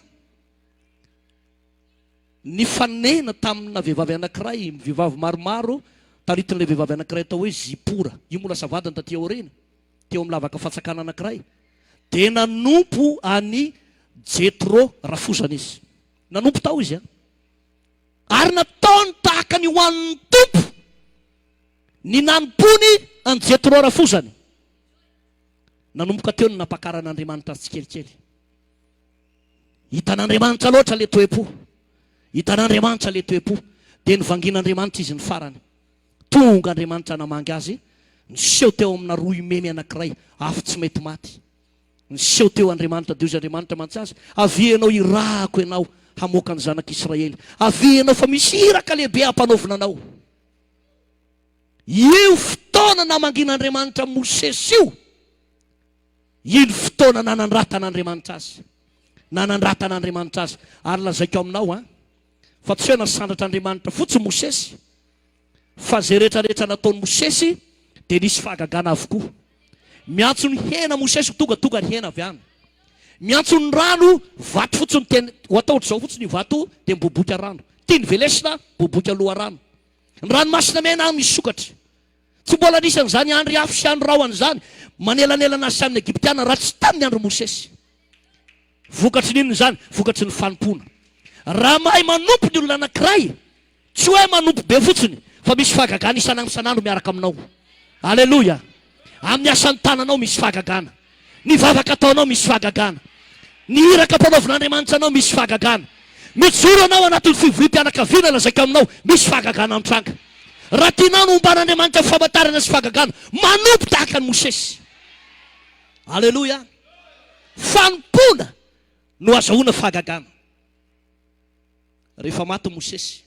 nifanena tamina vehivavy anankiray, vehivavy maromaro taritin'ilay vehivavy anankiray atao hoe Zipora. Io moa lasa vadiny taty aoriana, teo amin'ny lavaka fatsakana anankiray. Dia nanompo an'i Jetro rafozany izy. Nanompo tao izy an. Ary nataony tahaka ny ho an'ny Tompo ny nanompoany an'i Jethro rafozany. Nanomboka teo ny nampakaran'Andriamanitra azy tsikelikely. Hitan'Andriamanitra loatra ilay toe-po. Hitan'Andriamanitra ilay toe-po. Dia novangin'Andriamanitra izy ny farany. Tonga Andriamanitra namangy azy, niseho teo amina rohy memy anankiray, afo tsy mety maty. Niseho teo Andriamanitra dia hoy izy Andriamanitra mantsy azy, Avia ianao hirahako ianao hamoaka ny zanak'i Israely. Avia ianao fa misy iraka lehibe hampanaovina anao. Io fotoana namangian'Andriamanitra Mosesy io, iny fotoana nanandratan'Andriamanitra azy. Nanandratan'Andriamanitra azy. Ary lazaiko aminao an, fa tsy hoe nasandratr'Andriamanitra fotsiny Mosesy, Fa izay rehetra rehetra nataon'i Mosesy dia nisy fahagagana avokoa. Miantso ny hena Mosesy ho tonga, tonga ny hena avy any. Miantso ny rano, vato fotsiny tena, ho atao ohatr'izao fotsiny io vato dia miboboika rano. Tiany velesina, boboika loharano. Ny ranomasina mena an misokatra. Tsy mbola nisy an'izany andry afo sy andro rahona izany manelanelana ny sanin'ny Egyptiana raha tsy tamin'ny andron'i Mosesy. Vokatry ny inona izany? Vokatry ny fanompoana. Raha mahay manompo ny olona anankiray, tsy hoe manompo be fotsiny, fa misy fahagagana isan'andro isan'andro miaraka aminao. Aleloia! Amin'ny asan'ny tananao misy fahagagana. Ny vavaka ataonao misy fahagagana. Ny iraka ampanaovin'Andriamanitra anao misy fahagagana. Mijoro ianao anatin'ny fivoriam-pianakaviana lazaiko aminao, misy fahagagana mitranga. Raha tianao ny homban'Andriamanitra famantarana sy fahagagana, manompo tahaka an'i Mosesy. Aleloia! Fanompoana no azahoana fahagagana. Rehefa maty Mosesy,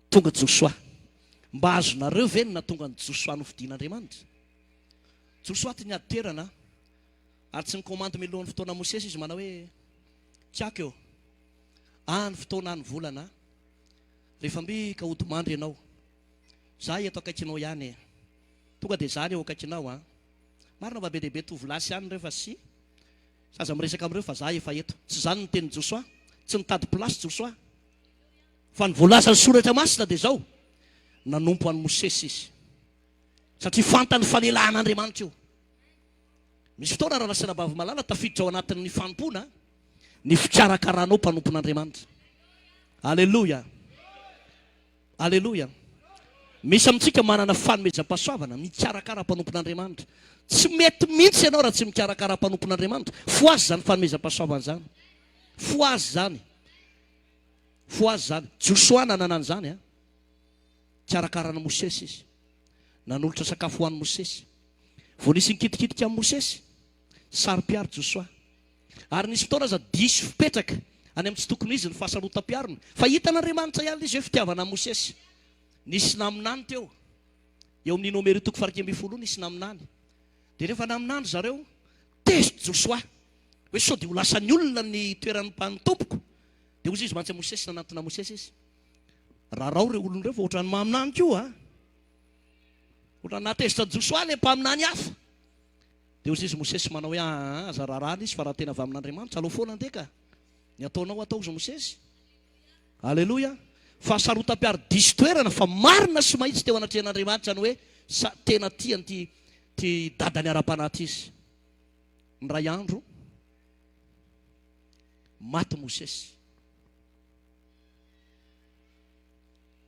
tonga Josoa. Mba azonareo ve ny nahatonga an'i Josoa nofidin'Andriamanitra? Josoa tsy niady toerana ary tsy nikomandy mialohan'ny fotoana Mosesy izy manao hoe, Kiaka eo, ahy ny fotoana ahy ny volana a! Rehefa mby ka hodi-mandry ianao, izaho eto akaikinao ihany e! Tonga dia izaho anie eo akaikinao a! Marina fa be dia be tovolahy sy anreo fa sy Tsy aza miresaka amin'ireo fa za efa eto. Tsy izany ny tenin'i Josoa. Tsy nitady place Josoa. Fa ny voalazan'ny soratra masina dia izao, nanompo an'i Mosesy izy. Satria fantany fa lehilahy an'Andriamanitra io. Misy fotoana rahalahy sy anabavy malala tafiditra ao anatin'ny fanompoana ny fikarakaranao mpanompon'Andriamanitra. Aleloia. Aleloia! Misy amintsika manana fanomezam-pahasoavana, mikarakara mpanompon'Andriamanitra. Tsy mety mihitsy ianao raha tsy mikarakara mpanompon'Andriamanitra. Fohaza izany fanomezam-pahasoavana izany. Fohaza izany. Fohaza izany. Josoa nanana an'izany an. Nikarakara an'i Mosesy izy. Nanolotra sakafo ho an'i Mosesy. Vao nisy nikitikitika an'i Mosesy, Saropiaro Josoa. Ary nisy fotoana aza diso fipetraka any amin'ny tsy tokony izy ny fahasarotam-piarony. Fa hitan'Andriamanitra ihany izy hoe fitiavana an'i Mosesy. Nisy naminany teo. Eo amin'ny Nomerio toko faha-iraika ambin'ny folo nisy naminany. Dia rehefa naminany ry zareo, tezitra Josoa hoe sao dia ho lasan'ny olona ny toeran'ny mpan'ny tompoko. Dia hoy izy mantsy amin'i Mosesy, nanantona Mosesy izy, rarao ireo olona ireo fa ohatran'ny maminany koa. Ohatran'ny nahatezitra an'i Josoa ilay mpaminany hafa. Dia hozy izy Mosesy manao hoe, Aa, aza raharaha ilay izy fa raha tena avy amin'Andriamanitra, aleo foana andeha ka. Ny ataonao atao hozy Mosesy. Aleloia! Fahasarotam-piaro diso toerana fa marina sy mahitsy teo anatrehan'Andriamanitra ny hoe sa tena tia an'ity ity dadany ara-panahy ity izy. Indray andro, maty Mosesy.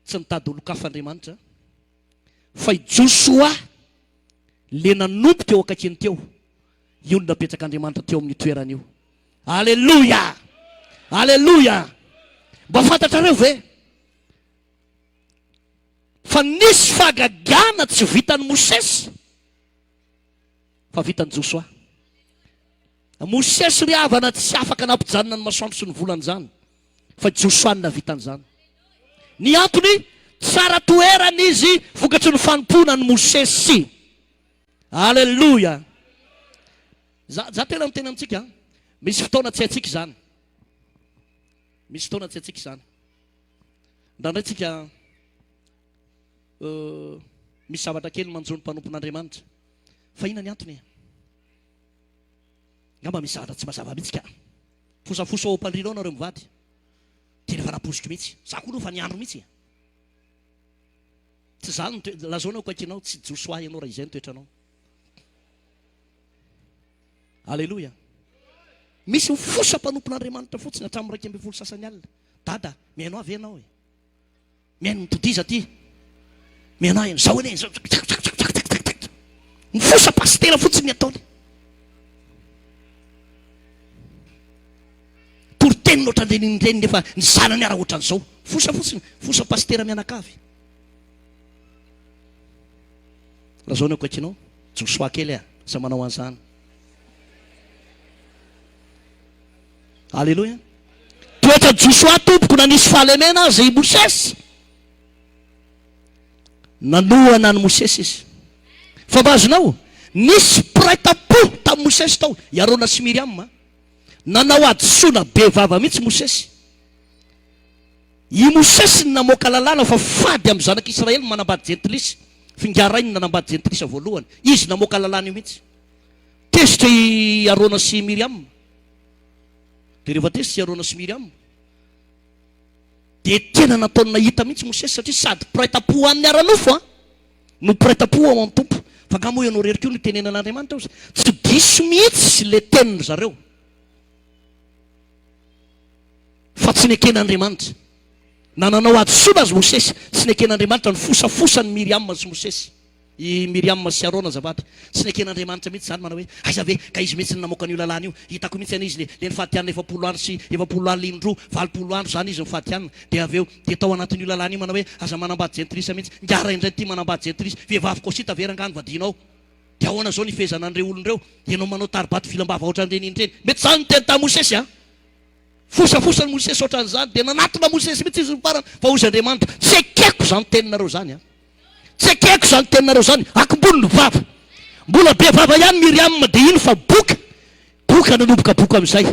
Tsy nitady olon-kafa Andriamanitra. Fa i Josoa, ilay nanompo teo akaikiny teo, io no napetrak'Andriamanitra teo amin'io toerana io. Aleloia! Aleloia! Mba fantatrareo ve fa nisy fahagagana tsy vitan'i Mosesy? Fa vitan'i Josoa. Mosesy ry havana tsy afaka nampijanona ny masoandro sy ny volana izany, fa i Josoa no nahavita an'izany. Ny antony, tsara toerana izy vokatry ny fanompoana an'i Mosesy. Aleloia! Za, za tena miteny amintsika, misy fotoana tsy haintsika izany. Misy fotoana tsy haintsika izany. Ndraindray tsika Misy zavatra kely manjo ny mpanompon'Andriamanitra. Fa inona ny antony e? Ngamba misy zavatra tsy mazava mihitsy ka. Fosafosa ao am-pandriana ao nareo mivady. Tena efa nampoiziko mihitsy. Za koa aloha efa niandry mihitsy e. Tsy za no lazao ny akaikinao, tsy Josoa ianao raha izay ny toetranao. Alléluia. Misy ny fosa mpanompon'Andriamanitra fotsiny hatramin'ny iraika ambin'ny folo sasany alina. Dada, mihaino ahy ve ianao e? Mihaino ny todiza aty. Mihaino ahy zao anie. Mifosa pasitera fotsiny ny ataony. Toriteny loatra ny reniny reniny efa ny zanany ara ohatran'izao. Fosa fotsiny, fosa pasitera mianakavy. Raha zao no akoikinao, Josoa kely a, sa manao an'izany. Aleloia. Toetra Josoa tompoko na nisy fahalemena aza i Mosesy. Nanohana an'i Mosesy izy. Fa mba azonao, nisy mpiray tampo tamin'i Mosesy tao, i Arona sy Miriama. Nanao hadisoana bevava mihitsy i Mosesy. I Mosesy ny namoaka lalàna fa fady amin'ny zanak'Israely ny manambady jentilisa. Fingarainy ny nanambady jentilisa voalohany. Izy namoaka lalàna io mihitsy. Tezitra i Arona sy Miriama. Dia rehefa tezitra i Arona sy Miriama, dia tena nataony nahita mihitsy Mosesy satria sady mpiray tam-po ho an'ny ara-nofo no mpiray tam-po ho an'ny Tompo. Fa nga moa ianao irery koa no itenenan'Andriamanitra ozy? Tsy diso mihitsy le tenin'ny zareo fa tsy neken'Andriamanitra. Na nanao hadisoana aza Mosesy, tsy neken'Andriamanitra ny fosafosan'i Miriama sy Mosesy. I Miriama sy Arona azafady. Tsy neken'Andriamanitra mihitsy izany manao hoe aiza ve ka izy mihitsy no namoaka an'io lalàna io. Hitako mihitsy anie izy le le nifady hanina efapolo andro sy efapolo alina indroa, valopolo andro izany izy nifady hanina. Dia avy eo dia tao anatin'io lalàna io manao hoe aza manambady jentilisa mihitsy. Ngara indray ity manambady jentilisa. Vehivavy kosita ve rangah no vadianao? Dia ahoana izao ny hifehezana an'ireo olona ireo? Ianao manao taribato vilam-bava ohatran'ireny indreny. Mety izany no teny tamin'i Mosesy an! Fosafosa an'i Mosesy ohatran'izany. Dia nanatona Mosesy mihitsy izy ny farany fa hoy izy Andriamanitra tsy ekeko izany teninareo izany an! Tsy ekeko izany teninareo izany, akombony ny vava. Mbola be vava ihany Miriam dia iny fa boka, boka nanomboka boka amin'izay.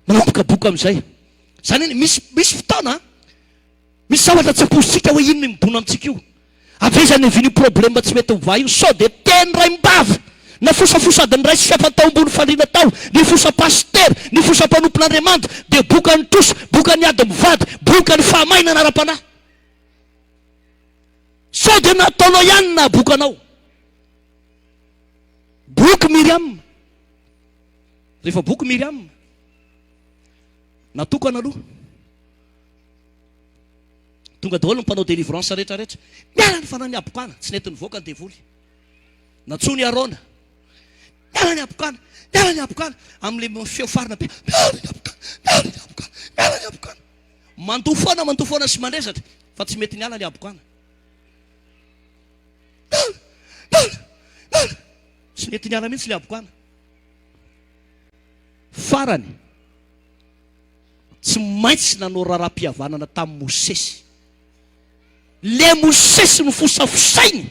Manomboka boka amin'izay. Izany hoe misy, misy fotoana an, misy zavatra tsy ampoizintsika hoe inona io midona amintsika io. Avy aiza ny avian'io problème tsy mety mivaha io? Sao dia teny raim-bava, na fosafosadin'ny ray sy fiafany tao ambony fandriana tao, ny fosa pasitera, ny fosa mpanompon'Andriamanitra, dia boka ny trosa, boka ny ady mivady, boka ny fahamainana ara-panahy. Sao dia nataonao ihany ny naha boky anao. Boky Miriam. Rehefa boky Miriam. Natokana aloha. Tonga daholo ny mpanao délivrance rehetra rehetra. Miala ny fanan'ny habokana. Tsy nety nivoaka ny devoly. Nantsoiny i Arona. Miala ny habokana. Miala ny habokana. Amin'ilay feo farina be. Miala ny habokana. Miala ny habokana. Miala ny habokana. Mandoa foana, mandoa foana sy mandrezatra fa tsy mety niala ny habokana. Nana! Nana! Nana! Tsy nety niala mihitsy ny habokana. Farany, tsy maintsy nanao raharaham-pihavanana tamin'i Mosesy. Ilay Mosesy nofosafosainy.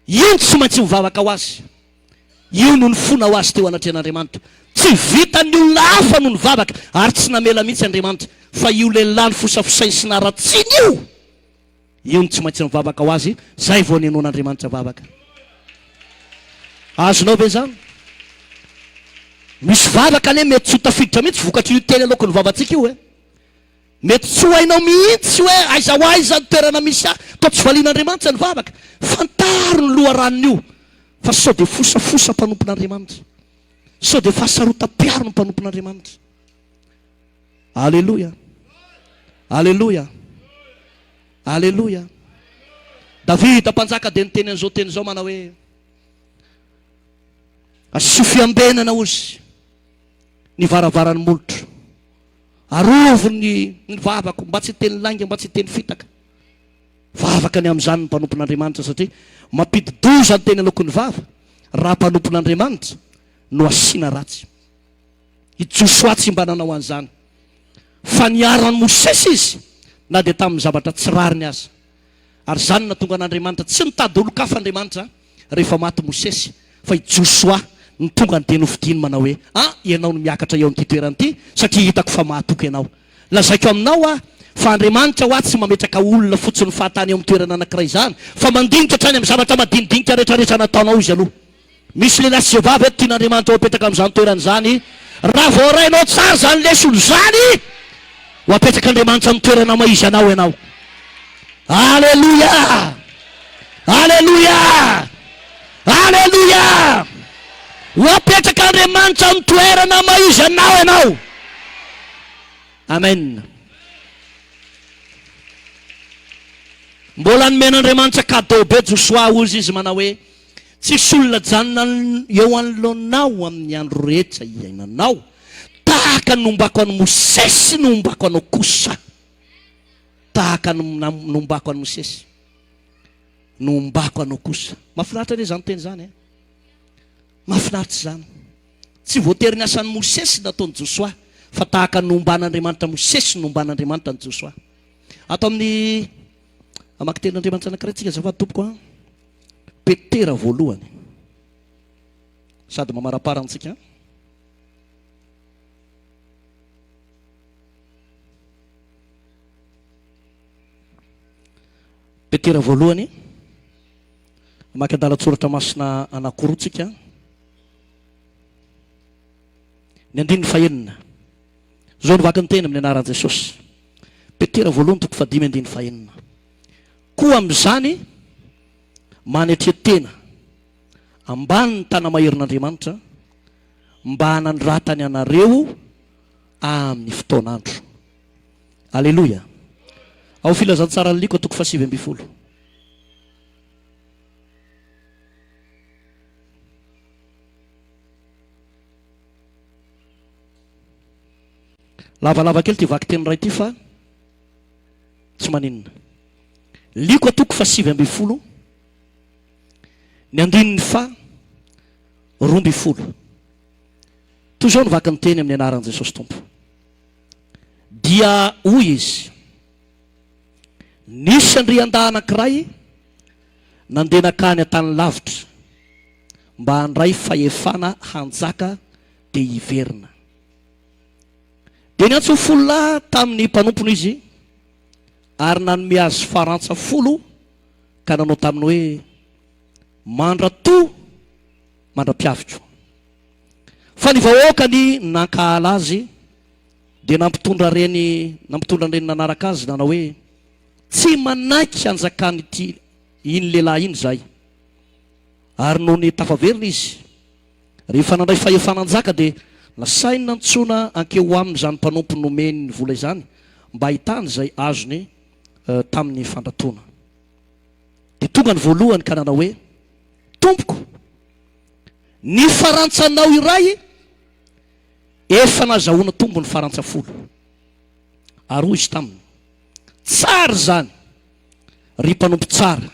Io no tsy maintsy mivavaka ho azy. Io no nifona ho azy teo anatrehan'Andriamanitra. Tsy vitan'ny olona hafa no nivavaka, ary tsy namela mihitsy Andriamanitra, fa io lehilahy nofosafosainy sy naharatsiny io. Io no tsy maintsy nivavaka ho azy, izay vao ninoan'Andriamanitra vavaka. Azonao ve izany? Misy vavaka anie mety tsy ho tafiditra mihitsy vokatr'io teny aloaky ny vavantsika io e! Mety tsy ho hainao mihitsy hoe aiza ho aiza ny toerana misy ahy. Toa tsy valian'Andriamanitra ny vavaka. Fantaro ny loharanon'io fa sao dia fosafosa mpanompon'Andriamanitra. Sao dia fahasarotam-piaro ny mpanompon'Andriamanitra. Aleloia! Aleloia! Aleloia! Davida mpanjaka dia niteny an'izao teny izao manao hoe, Asio fiambenana, hozy, ny varavaran'ny molotro. Arovy ny ny vavako mba tsy hiteny lainga, mba tsy hiteny fitaka. Vavaka ny amin'izany ny mpanompon'Andriamanitra satria mampidi-doza ny teny aloaky ny vava raha mpanompon'Andriamanitra no asiana ratsy. I Josoa tsy mba nanao an'izany fa niaro an'i Mosesy izy na dia tamin'ny zavatra tsy rariny aza. Ary izany no nahatonga an'Andriamanitra, tsy nitady olon-kafa Andriamanitra rehefa maty Mosesy, fa i Josoa no tonga dia nofidiny manao hoe, A! ianao no miakatra eo amin'ity toerana ity, satria hitako fa mahatoky ianao. Lazaiko aminao aho, fa Andriamanitra ho'a tsy mametraka olona fotsiny fahatany eo amin'ny toerana anankiray izany, fa mandinika hatrany amin'ny zavatra madinidinika rehetrarehetra nataonao izy aloha. Misy lehilahy sy vehivavy eto tian'Andriamanitra ho apetraka amin'izany toerana izany. Raha voarainao tsara izany lesona izany, ho apetrak'Andriamanitra amin'ny toerana maha-izy anao ianao. Aleloia! Aleloia! Aleloia! Ho apetrak'Andriamanitra amin'ny toerana maha-izy anao ianao. Amen. Mbola nomen'Andriamanitra cadeau be Josoa, hoy izy, manao hoe, Tsisy olona janona eo anoloanao amin'ny andro rehetra iainanao, tahaka ny nombako an'i Mosesy no hombako anao kosa. Tahaka ny nombako an'i Mosesy no hombako anao kosa. Mahafinaritra ve izany teny izany? Eh? Mahafinaritra izany. Tsy voatery ny asan'i Mosesy nataon'i Josoa, fa tahaka ny nomban'Andriamanitra Mosesy no nomban'Andriamanitra an'i Josoa. Ato amin'ny amaky tenin'Andriamanitra anankiray tsika zafady tompoko an. Petera voalohany sady mamarapara antsika. Petera voalohany, maka an-dalan-tsoratra masina anankiroa tsika. Ny andininy fahenina, zao ny vaky ny teny amin'ny anaran'i Jesosy. Petera voalohany toko fahadimy andininy fahenina. Koa amin'izany manetre tena ambanin'ny Tanamaherin'Andriamanitra mba hanandratany anareo amin'ny fotoan'andro. Aleloia. Ao Filazantsaran'i Lioka toko fahasivy ambin'ny folo. Lavalava kely ity vakiteny iray ity fa. Tsy maninona. Lioka toko fahasivy ambin'ny folo, ny andininy faha roa ambin'ny folo. Toy izao no vaky ny teny amin'ny anaran'i Jesosy Tompo. Dia hoy izy, Nisy andriandahy anankiray nandeha nankany an-tany lavitra mba handray fahefana hanjaka dia hiverina. Dia niantso folo lahy tamin'ny mpanompony izy ary nanome azy farantsa folo ka nanao taminy hoe, Mandra-toa mandra-piaviko. Fa ny vahoakany nankahala azy dia nampitondra reny nampitondra an'ireny nanaraka azy nanao hoe, Tsy manaiky hanjakan'ity iny lehilahy iny izahay. Ary nony tafaverina izy. Rehefa nandray fahefana hanjaka dia nasainy nantsoina hankeo ho aminy izany mpanompo nomeny ny vola izany mba hahitany izay azony tamin'ny fandratoana. Dia tonga ny voalohany ka nanao hoe, Tompoko, ny farantsanao iray efa nazahoana tombony farantsa folo. Ary hoy izy taminy, Tsara izany, ry mpanompo tsara,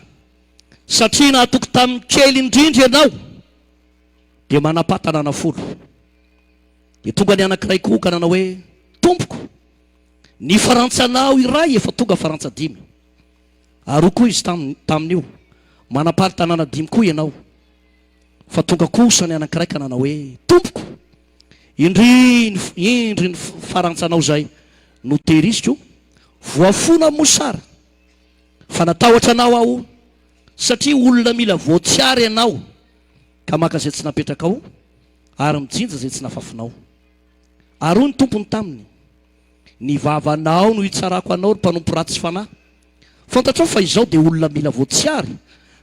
satria nahatoky tamin'ny kely indrindra ianao. dia manam-patana ana folo. Dia tonga ny anankiray koa ka nanao hoe, Tompoko, ny farantsanao iray efa tonga farantsa dimy. Ary hoy koa izy tamin'io, Manam-paritana ana dimy koa ianao. Fa tonga kosa ny anankiray ka nanao hoe, Tompoko, indriny, indriny farantsanao izay no tehiriziko, voafona mosary. Fa natahotra anao aho satria olona mila voatsiara ianao ka maka izay tsy napetrakao ary mijinja izay tsy nafafinao. Ary hoy ny tompony taminy, Ny vavanao no hitsarako anao ry mpanompo ratsy fanahy. Fantatrao fa izaho dia olona mila voatsiara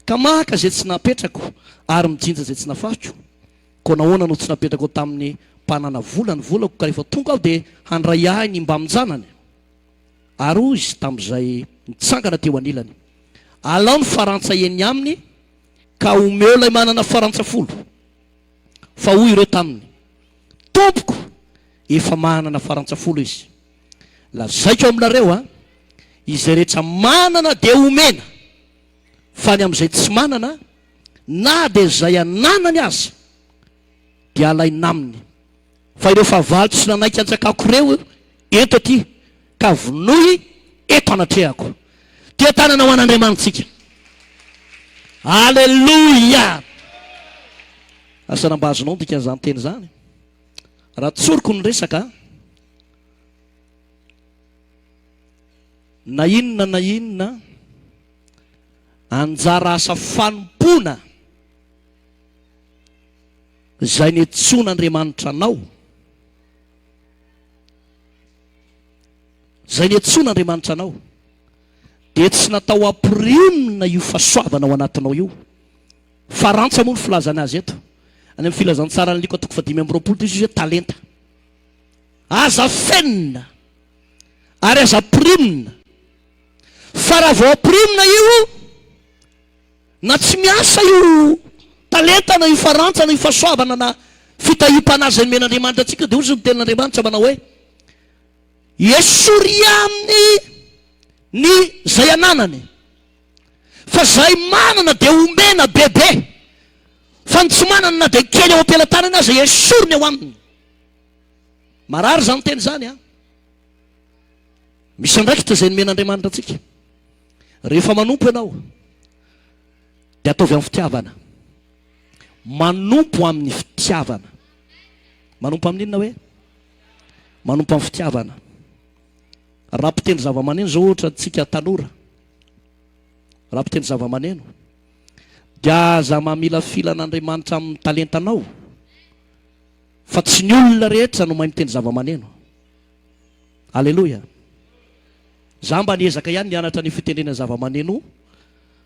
ka maka izay tsy napetrako ary mijinja izay tsy nafahiko. Koa nahoana no tsy napetrakao tamin'ny mpanana vola ny volako ka rehefa tonga aho dia handray ahy ny mbamin-janany? Ary hoy izy tamin'izay nitsangana teo anilany, Alao ny farantsa eny aminy, ka omeo ilay manana farantsa folo. Fa hoy ireo taminy, Tompoko, efa manana farantsa folo izy. Lazaiko aminareo, a, izay rehetra manana dia homena, fa ny amin'izay tsy manana, na dia izay ananany aza, dia halaina aminy. Fa ireo fahavalo tsy nanaiky antsakako ireo, ento aty, ka vonoy eto anatrehako. Tia tanana ho an' Andriamanitsika. Aleloia! Asa raha mba azonao ny dikan'izany teny izany? Raha tsoriko ny resaka, na inona na inona anjara asa fanompoana, Izay niantsoan'Andriamanitra anao. Izay niantsoan'Andriamanitra anao. Dia tsy natao hampirimina io fahasoavana ao anatinao io. Farantsa moa ny filazana azy eto. Any amin'ny filazantsaran'ny Lioka toko fadimy amby roapolo izy hoe talenta. Aza fenina ary aza pirimina. Fa raha vao ampirimina io Na tsy miasa io talenta na io farantsa na io fahasoavana na fitahiam-panahy izay nomen'Andriamanitra antsika dia hoy izao ny tenin'Andriamanitra manao hoe esoria aminy ny izay ananany fa izay manana dia homena bebe fa ny tsy manana na dia kely eo am-pelatanany aza esoriny eo aminy. Marary izany teny izany an. Misy andraikitra izay nomen'Andriamanitra antsika. Rehefa manompo ianao, dia ataovy amin'ny fitiavana. Manompo amin'ny fitiavana. Manompo amin'ny inona hoe? Manompo amin'ny fitiavana. Raha mpitendry zavamaneno izao ohatra antsika tanora, raha mpitendry zavamaneno, dia aza mamilafila an'Andriamanitra amin'ny talentanao, fa tsy ny olona rehetra no mahay mitendry zavamaneno. Aleloia! Za mba niezaka ihany nianatra ny fitendrena zava-maneno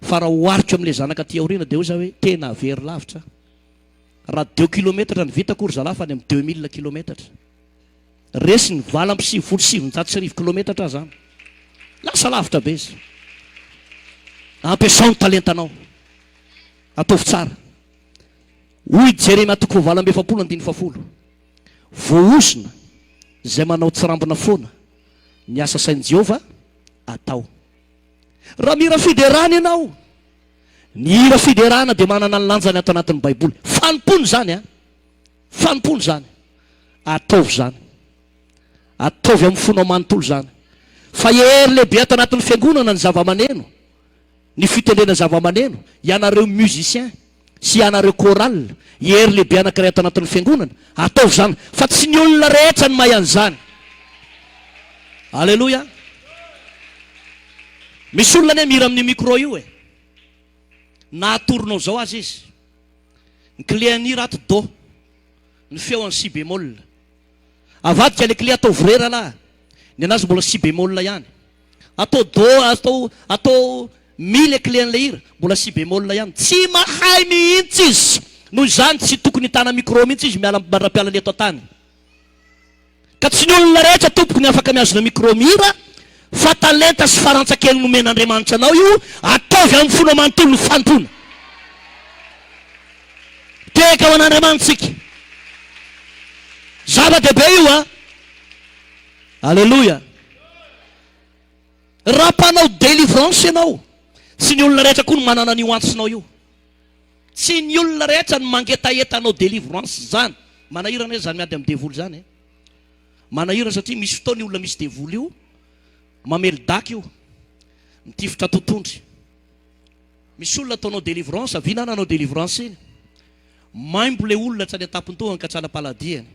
fa raha ohariko amin'ilay zanaka aty aoriana dia hoy za hoe tena very lavitra. Raha deux kilometatra no vitako ry zalahy fa any amin'ny deux mille kilometatra. Resy ny valo amby sivifolo sy sivinjato sy arivo kilometatra aza an! Lasa lavitra be izy. Ampiasao ny talentanao. Ataovy tsara. Hoy Jeremia toko fahavalo amby efapolo andininy fahafolo. Voahozona izay manao tsirambina foana ny asa asain'i Jehovah atao. Raha mihira fiderana ianao, ny hira fiderana dia manana ny lanjany ato anatin'ny Baiboly. Fanompoana izany, an! Fanompoana izany. Ataovy izany. Ataovy amin'ny fonao manontolo izany. Fa hery lehibe ato anatin'ny fiangonana ny zavamaneno. Ny fitendrena zavamaneno, ianareo musiciens sy ianareo chorale, hery lehibe anakiray ato anatin'ny fiangonana, ataovy izany, fa tsy ny olona rehetra no mahay an'izany. Aleloia! Misy olona anie mihira amin'io micro io e! Na atoronao izao aza izy. Ny clé an'ny hira ato do. Ny feo an'ny si bémol. Avadika le kle ataovy re ralah. Ny anazy mbola si bémol ihany. Atao do atao atao mi le kle an'le hira. Mbola si bémol ihany. Tsy mahay mihitsy izy. Noho izany tsy tokony hitana micro mihitsy izy miala mandra-pialany eto an-tany. Ka tsy ny olona rehetra tompoko ny afaka mihazona micro mihira. Fa talenta sy farantsa kely nomen'Andriamanitra anao io, ataovy amin'ny fonao manontolo ny fanompoana. Tehaka ho an'Andriamanitsika. Zava-dehibe io an! Aleloia! Raha mpanao délivrance ianao, tsy ny olona rehetra koa no manana an'io antsinao io. Tsy ny olona rehetra no mangetaheta hanao délivrance izany. Manahirana izany miady amin'ny devoly izany e! Manahirana satria misy fotoana io olona misy devoly io mamely dac io, mitifitra totondry. Misy olona ataonao delivrance, vina aho nanao delivrance iny. Maimbo ilay olona hatrany an-tampon-dohany ka hatrany am-paladiany.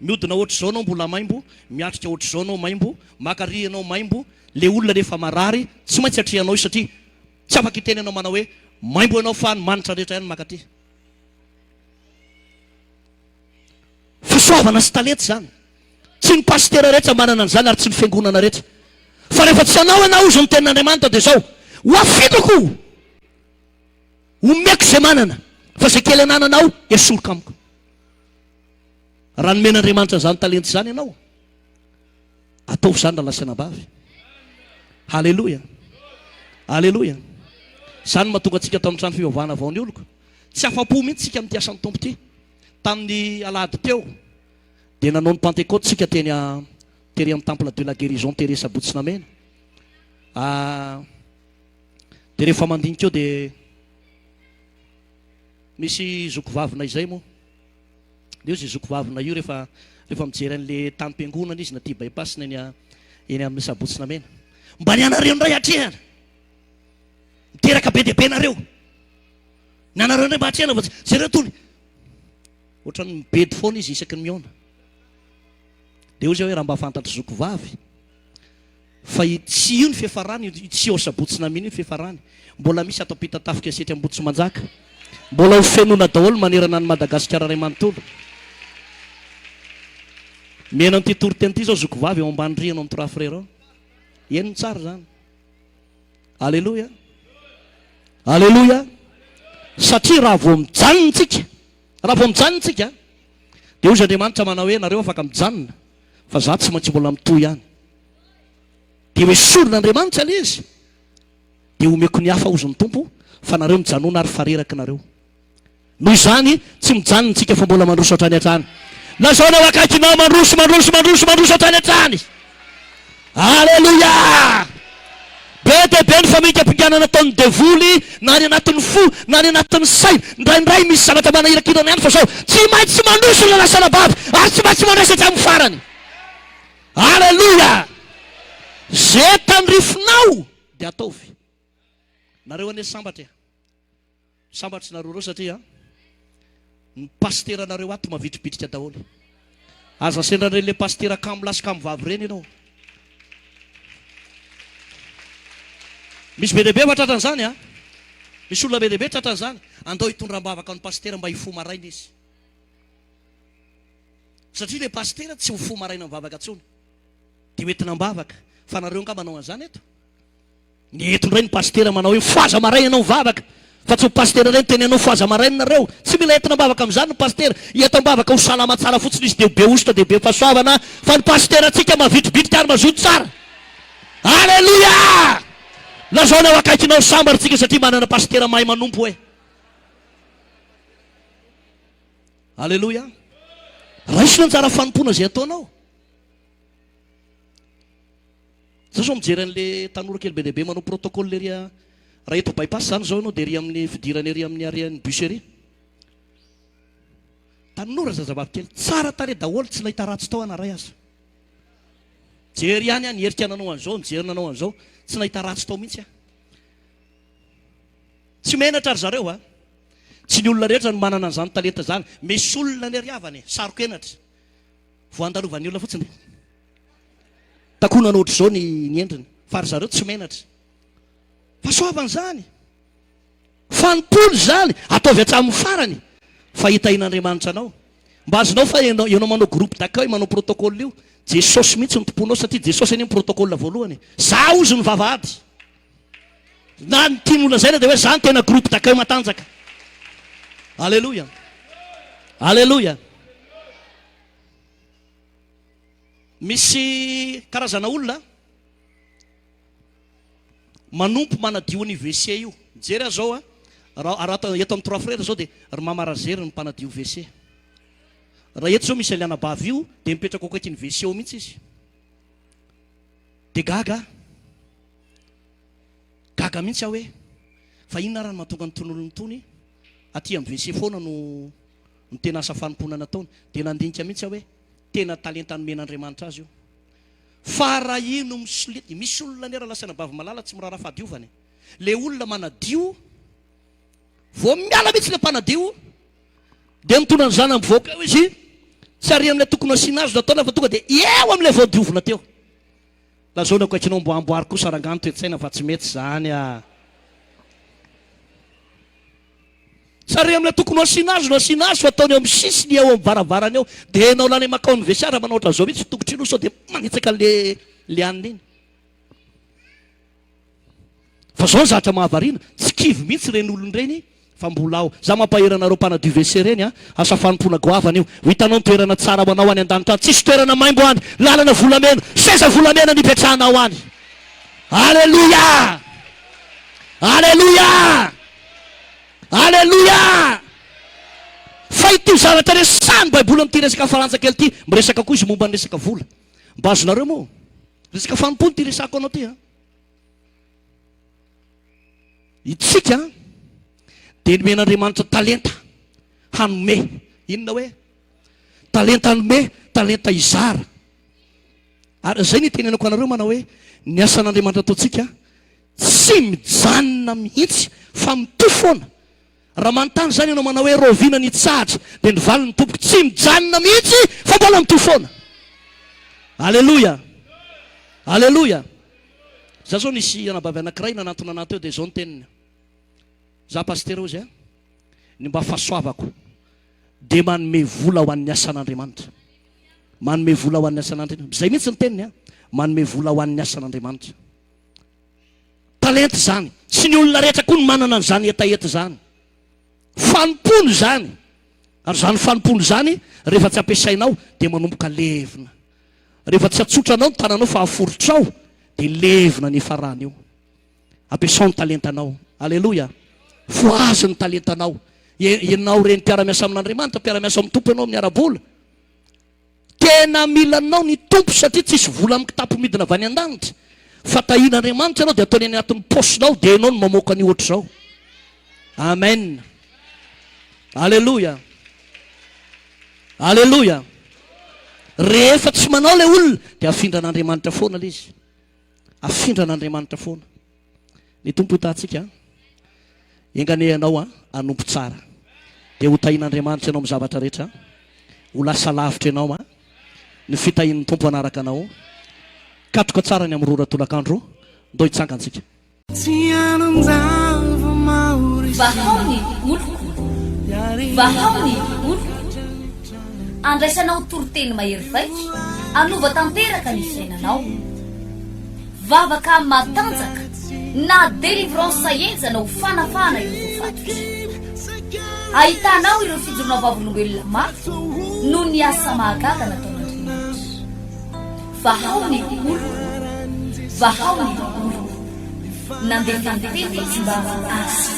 Mihodina ohatr'izao ianao mbola maimbo, miatrika ohatr'izao ianao maimbo, maka arỳ ianao maimbo, ilay olona rehefa marary tsy maintsy atrehanao io satria tsy afaka hiteny anao manao hoe maimbo ianao fa ny manitra rehetra ihany no mankaty. Fisoavana sy talenta izany. Tsy ny pasitera rehetra manana an'izany ary tsy ny fiangonana rehetra. Fa rehefa tsy anao ianao, hozy ny tenin'Andriamanitra, dia izao, Hoafitako! Homeko izay manana, fa izay kely ananana aho, esoriko amiko. Raha nomen'Andriamanitra an'izany talenta izany ianao, ataovy izany rahalahy sy anabavy. Haleloia! Haleloia! Izany mahatonga antsika tao amin'ny trano fivavahana vao ny oloko. Tsy afa-po mihitsy isika amin'ny ity asan'ny Tompo ity. Tamin'ny alahady teo dia nanao ny Pantekoty isika teny tery amin'ny Temple de la Guérison tery Sabotsinamena. Dia rehefa mandinika eo dia misy zokovavina izay moa. Dia izy zokovavina io rehefa rehefa mijery an'ilay tanim-piangonana izy na ty bypass na eny eny amin'ny Sabotsinamena. Mba ny anareo indray atrehana. Miteraka be dia be nareo. Nianareo indray mba hatrehana fa tsy jereo tony. Ohatran'ny mibedy foana izy isaky ny mihaona. Dia hoy izy hoe raha mba fantatr'i zoky vavy fa tsy io ny fiafarany, io tsy ao sabotsy namina io ny fiafarany. Mbola misy ato Ampitatafika sy ety Ambohitsomanjaka. Mbola ho fenoina daholo manerana an'i Madagasikara iray manontolo. Mihaino an'ity toriteny ity izao zoky vavy ao ambany rihana ao amin'ny Trois Frères ao. Henony tsara izany. Aleloia. Aleloia. Satria raha vao mijanona antsika, raha vao mijanona antsika, dia hoy izy Andriamanitra manao hoe nareo afaka mijanona fa za tsy maintsy mbola mitohy ihany. Dia ho esorina Andriamanitra ilay izy. Dia omeko ny hafa hozy ny Tompo fa nareo mijanona ary fareraka nareo. Noho izany, tsy mijanona isika fa mbola mandroso hatrany hatrany. Lazaina ho akaikinao, mandroso, mandroso, mandroso, mandroso hatrany hatrany. Aleloia! Be dia be ny famingam-pinganana ataon'ny devoly, na any anatin'ny fo, na any anatin'ny saina. Indraindray misy zavatra manahirakirana ihany fa sao tsy maintsy mandroso ilay lasana-bavy, ary tsy maintsy mandresy hatramin'ny farany. Aleloia! Ze tandrifinao dia ataovy. Nareo anie sambatra e. Sambatry nareo reo satria ny pasitera nareo ato mavitribitrika daholo. Aza sendra reny le pasitera kamo lahy sy kamo vavy reny enao. Misy be dia be fa tratrany zany an. Misy olona be dia be tratrany zany. Andao hitondra ambavaka ny pasitera mba hifoha maraina izy. Satria le pasitera tsy ho foha maraina mivavaka tsony. Dia hoentina ambavaka. Fa nareo nga manao anzany eto? Ny eto indray ny pasitera manao hoe fohaza maraina ianao mivavaka fa tsy ny pasitera iray miteny anao fohaza maraina nareo. Tsy mila entina am-bavaka amin'izany ny pasitera. Ento am-bavaka ho salama tsara fotsiny izy dia ho be hosotra dia be fahasoavana fa ny pasiterantsika mavitribitrika ary mazoto tsara. Aleloia! Lazao ny ao akaikinao ry sambary tsika satria manana pasitera mahay manompo e. Aleloia! Raiso ny anjara fanompoana izay ataonao. Zao sao mijery an'le tanora kely be dia be manao protocole ery a! Raha eto Bypass zany zao ianao dia ery amin'ny fidirana ery amin'ny arean'ny bus ery. Tanora zazavavy kely tsara tarehy daholo tsy nahita ratsy tao aho na ray aza. Nijery ihany aho niherika nanao an'izao nijery nanao an'izao tsy nahita ratsy tao mihitsy aho. Tsy menatra ry zareo a! Tsy ny olona rehetra no manana an'izany talenta izany. Misy olona anie ry havana e, saroka henatra. Voandalovan'ny olona fotsiny. Takonana ohatr'izao ny ny endriny fa ry zareo tsy menatra. Fahasoavana izany. Fanompoana izany. Ataovy hatramin'ny farany fa hitahian'Andriamanitra anao. Mba azonao fa ianao ianao manao groupe d'accueil manao protocole io. Jesosy mihitsy no tomponao satria Jesosy anie ny protocole voalohany e. Za ozy ny vavahady. Na ny tiany holazaina dia hoe za no tena groupe d'accueil matanjaka. Aleloia. Aleloia. Misy karazana olona manompo manadio an'io WC io. Mijery aho zao an, raha raha eto amin'ny trois frères zao dia ry mama Razery no mpanadio WC. Raha eto zao misy an'ilay anabavy io dia mipetraka ao akaikin'ny WC ao mihitsy izy. Dia gaga aho. Gaga mihitsy aho hoe fa inona ary no mahatonga an'itony olona itony aty amin'ny WC foana no no tena asa fanompoana nataony. Dia nandinika mihitsy aho hoe. Tena talenta nomen'Andriamanitra azy io. Fa raha ino misolelaka, misy olona anie raha lasaina bavy malala tsy miraharaha fahadiovana e! Ilay olona manadio, vao miala mihitsy ilay mpanadio dia mitondra ny zanany mivoaka eo izy, tsy ary amin'ilay tokony ho asiana azy no ataony fa tonga dia eo amin'ilay vao diovina teo. Lazao ny akaikinao mba hamboary kosa rangahy ny toe-tsaina fa tsy mety izany ah! Tsara amina tokony ho asiana azy no asiana azy fa ataony eo amin'ny sisiny eo amin'ny varavarana eo dia enao lany makao ny vestiara manao ohatran zao mitsy tongotry aloha sao dia manitsaka anle le hanina iny fa zao ny zavatra mahavariana tsy kivy mitsy ireny olona ireny fa mbola ao za mampahery anareo mpanadio WC ireny a asa fanompoana goavana io ho hitanao ny toerana tsara ho anao any an-danitra any tsisy toerana maimbo any lalana volamena seza volamena nipetrahanao any aleloia aleloia Aleloia! Fa ity zavatra resahin'ny Baiboly amin'ity resaka farantsa kely ity, miresaka koa izy momba ny resaka vola. Mba azonareo moa? Resaka fanompoana ity resahako anao ity. Itsika dia nomen'Andriamanitra talenta hanome. Inona hoe? Talenta hanome, talenta izara. Ary izay ny tenenako anareo manao hoe ny asan'Andriamanitra ataontsika Tsy mijanona mihitsy fa mitohy foana. Raha manontany izany ianao manao hoe rahoviana ny hitsahatra? Dia ny valiny tompoko tsy mijanona mihitsy fa mbola mitohy foana. Aleloia! Aleloia! Za zao nisy anabavy anakiray nanantona anah teo dia zao ny teniny. Za pasitera ozy a! Ny mba fasoavako dia manome vola ho an'ny asan'Andriamanitra. Manome vola ho an'ny asan'Andriamanitra. Zay mihitsy ny teniny a! Manome vola ho an'ny asan'Andriamanitra. Talenta izany. Tsy ny olona rehetra koa no manana an'izany hetaheta izany. Fanompoana izany. Ary izany fanompoana izany, rehefa tsy ampiasainao, dia manomboka levona. Rehefa tsy atsotranao ny tananao fa aforitrao, dia levona ny ifarany eo. Ampiasao ny talentanao. Aleloia. Voazy ny talentanao. Ianao renim-piaramiasa amin'Andriamanitra, mpiaramiasa amin'ny Tompo ianao, miara-bola. Tena mila anao ny Tompo satria tsisy vola amin'ny kitapo midina avy any an-danitra fa tahian'Andriamanitra ianao dia ataony any anatin'ny paosinao dia ianao no mamoaka an'io ohatr'izao. Amen. Aleloia. Aleloia. Rehefa tsy manao ilay olona dia afindran'Andriamanitra foana ilay izy. Afindran'Andriamanitra foana. Ny Tompo hotahintsika an! Enganie ianao an, hanompo tsara. Dia hotahin'Andriamanitra ianao amin'ny zavatra rehetra an! Ho lasa lavitra ianao an! Ny fitahian'ny Tompo hanaraka anao. Katroka tsara ny amin'ny rora tolakandro, ndao hitsangantsika. Tsy hanan-jany vao maorisika. Vahao ny oloko, vahao ny oloko. Andraisanao toriteny mahery vaika, hanova tanteraka ny fiainanao. Vavaka matanjaka na délivrance enjana ho fanafahana ireo voafaty. Ahitanao ireo fijoroana vavolombelona mafy noho ny asa mahagaga nataon'Andriamanitra. Vahao ny oloko, vahao ny oloko. Nandefa ny teny izy mba hahazoana azy.